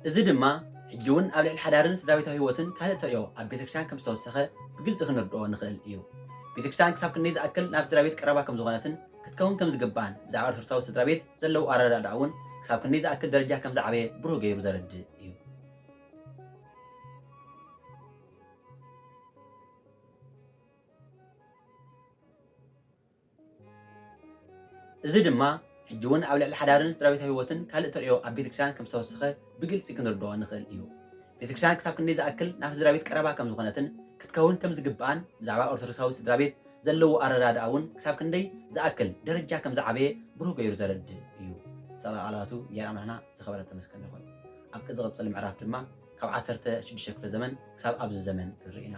እዚ ድማ ሕጂ ውን ኣብ ልዕሊ ሓዳርን ስድራቤታዊ ህይወትን ካልእ ተርእዮ ኣብ ቤተክርስትያን ከም ዝተወሰኸ ብግልጺ ክንርድኦ ንኽእል እዩ። ቤተክርስትያን ክሳብ ክንደይ ዝኣክል ናብ ስድራቤት ቀረባ ከም ዝኾነትን ክትከውን ከም ዝግብኣን ብዛዕባ ኦርቶዶክሳዊ ስድራቤት ዘለዎ ኣረዳድኣ ውን ክሳብ ክንደይ ዝኣክል ደረጃ ከም ዝዓበየ ብሩህ ገይሩ ዘረድእ እዩ። እዚ ድማ ሕጂ እውን ኣብ ልዕሊ ሓዳርን ስድራቤታዊ ህይወትን ካልእ ተርእዮ ኣብ ቤተክርስትያን ከም ዝተወሰኸ ብግልጺ ክንርድኦ ንኽእል እዩ። ቤተክርስትያን ክሳብ ክንደይ ዝኣክል ናብ ስድራቤት ቀረባ ከም ዝኾነትን ክትከውን ከም ዝግብኣን ብዛዕባ ኦርቶዶክሳዊ ስድራቤት ዘለዎ ኣረዳድኣ እውን ክሳብ ክንደይ ዝኣክል ደረጃ ከም ዝዓበየ ብሩህ ገይሩ ዘረድእ እዩ። ሰብኣዊ ቃላቱ እግዚኣብሔር ኣምላኽና ዝኸበረ ዝተመስገነ ይኹን። ኣብቲ ዝቕጽል ምዕራፍ ድማ ካብ ዓሰርተ ሽዱሽተ ክፍለ ዘመን ክሳብ ኣብዚ ዘመን ክንርኢ ኢና።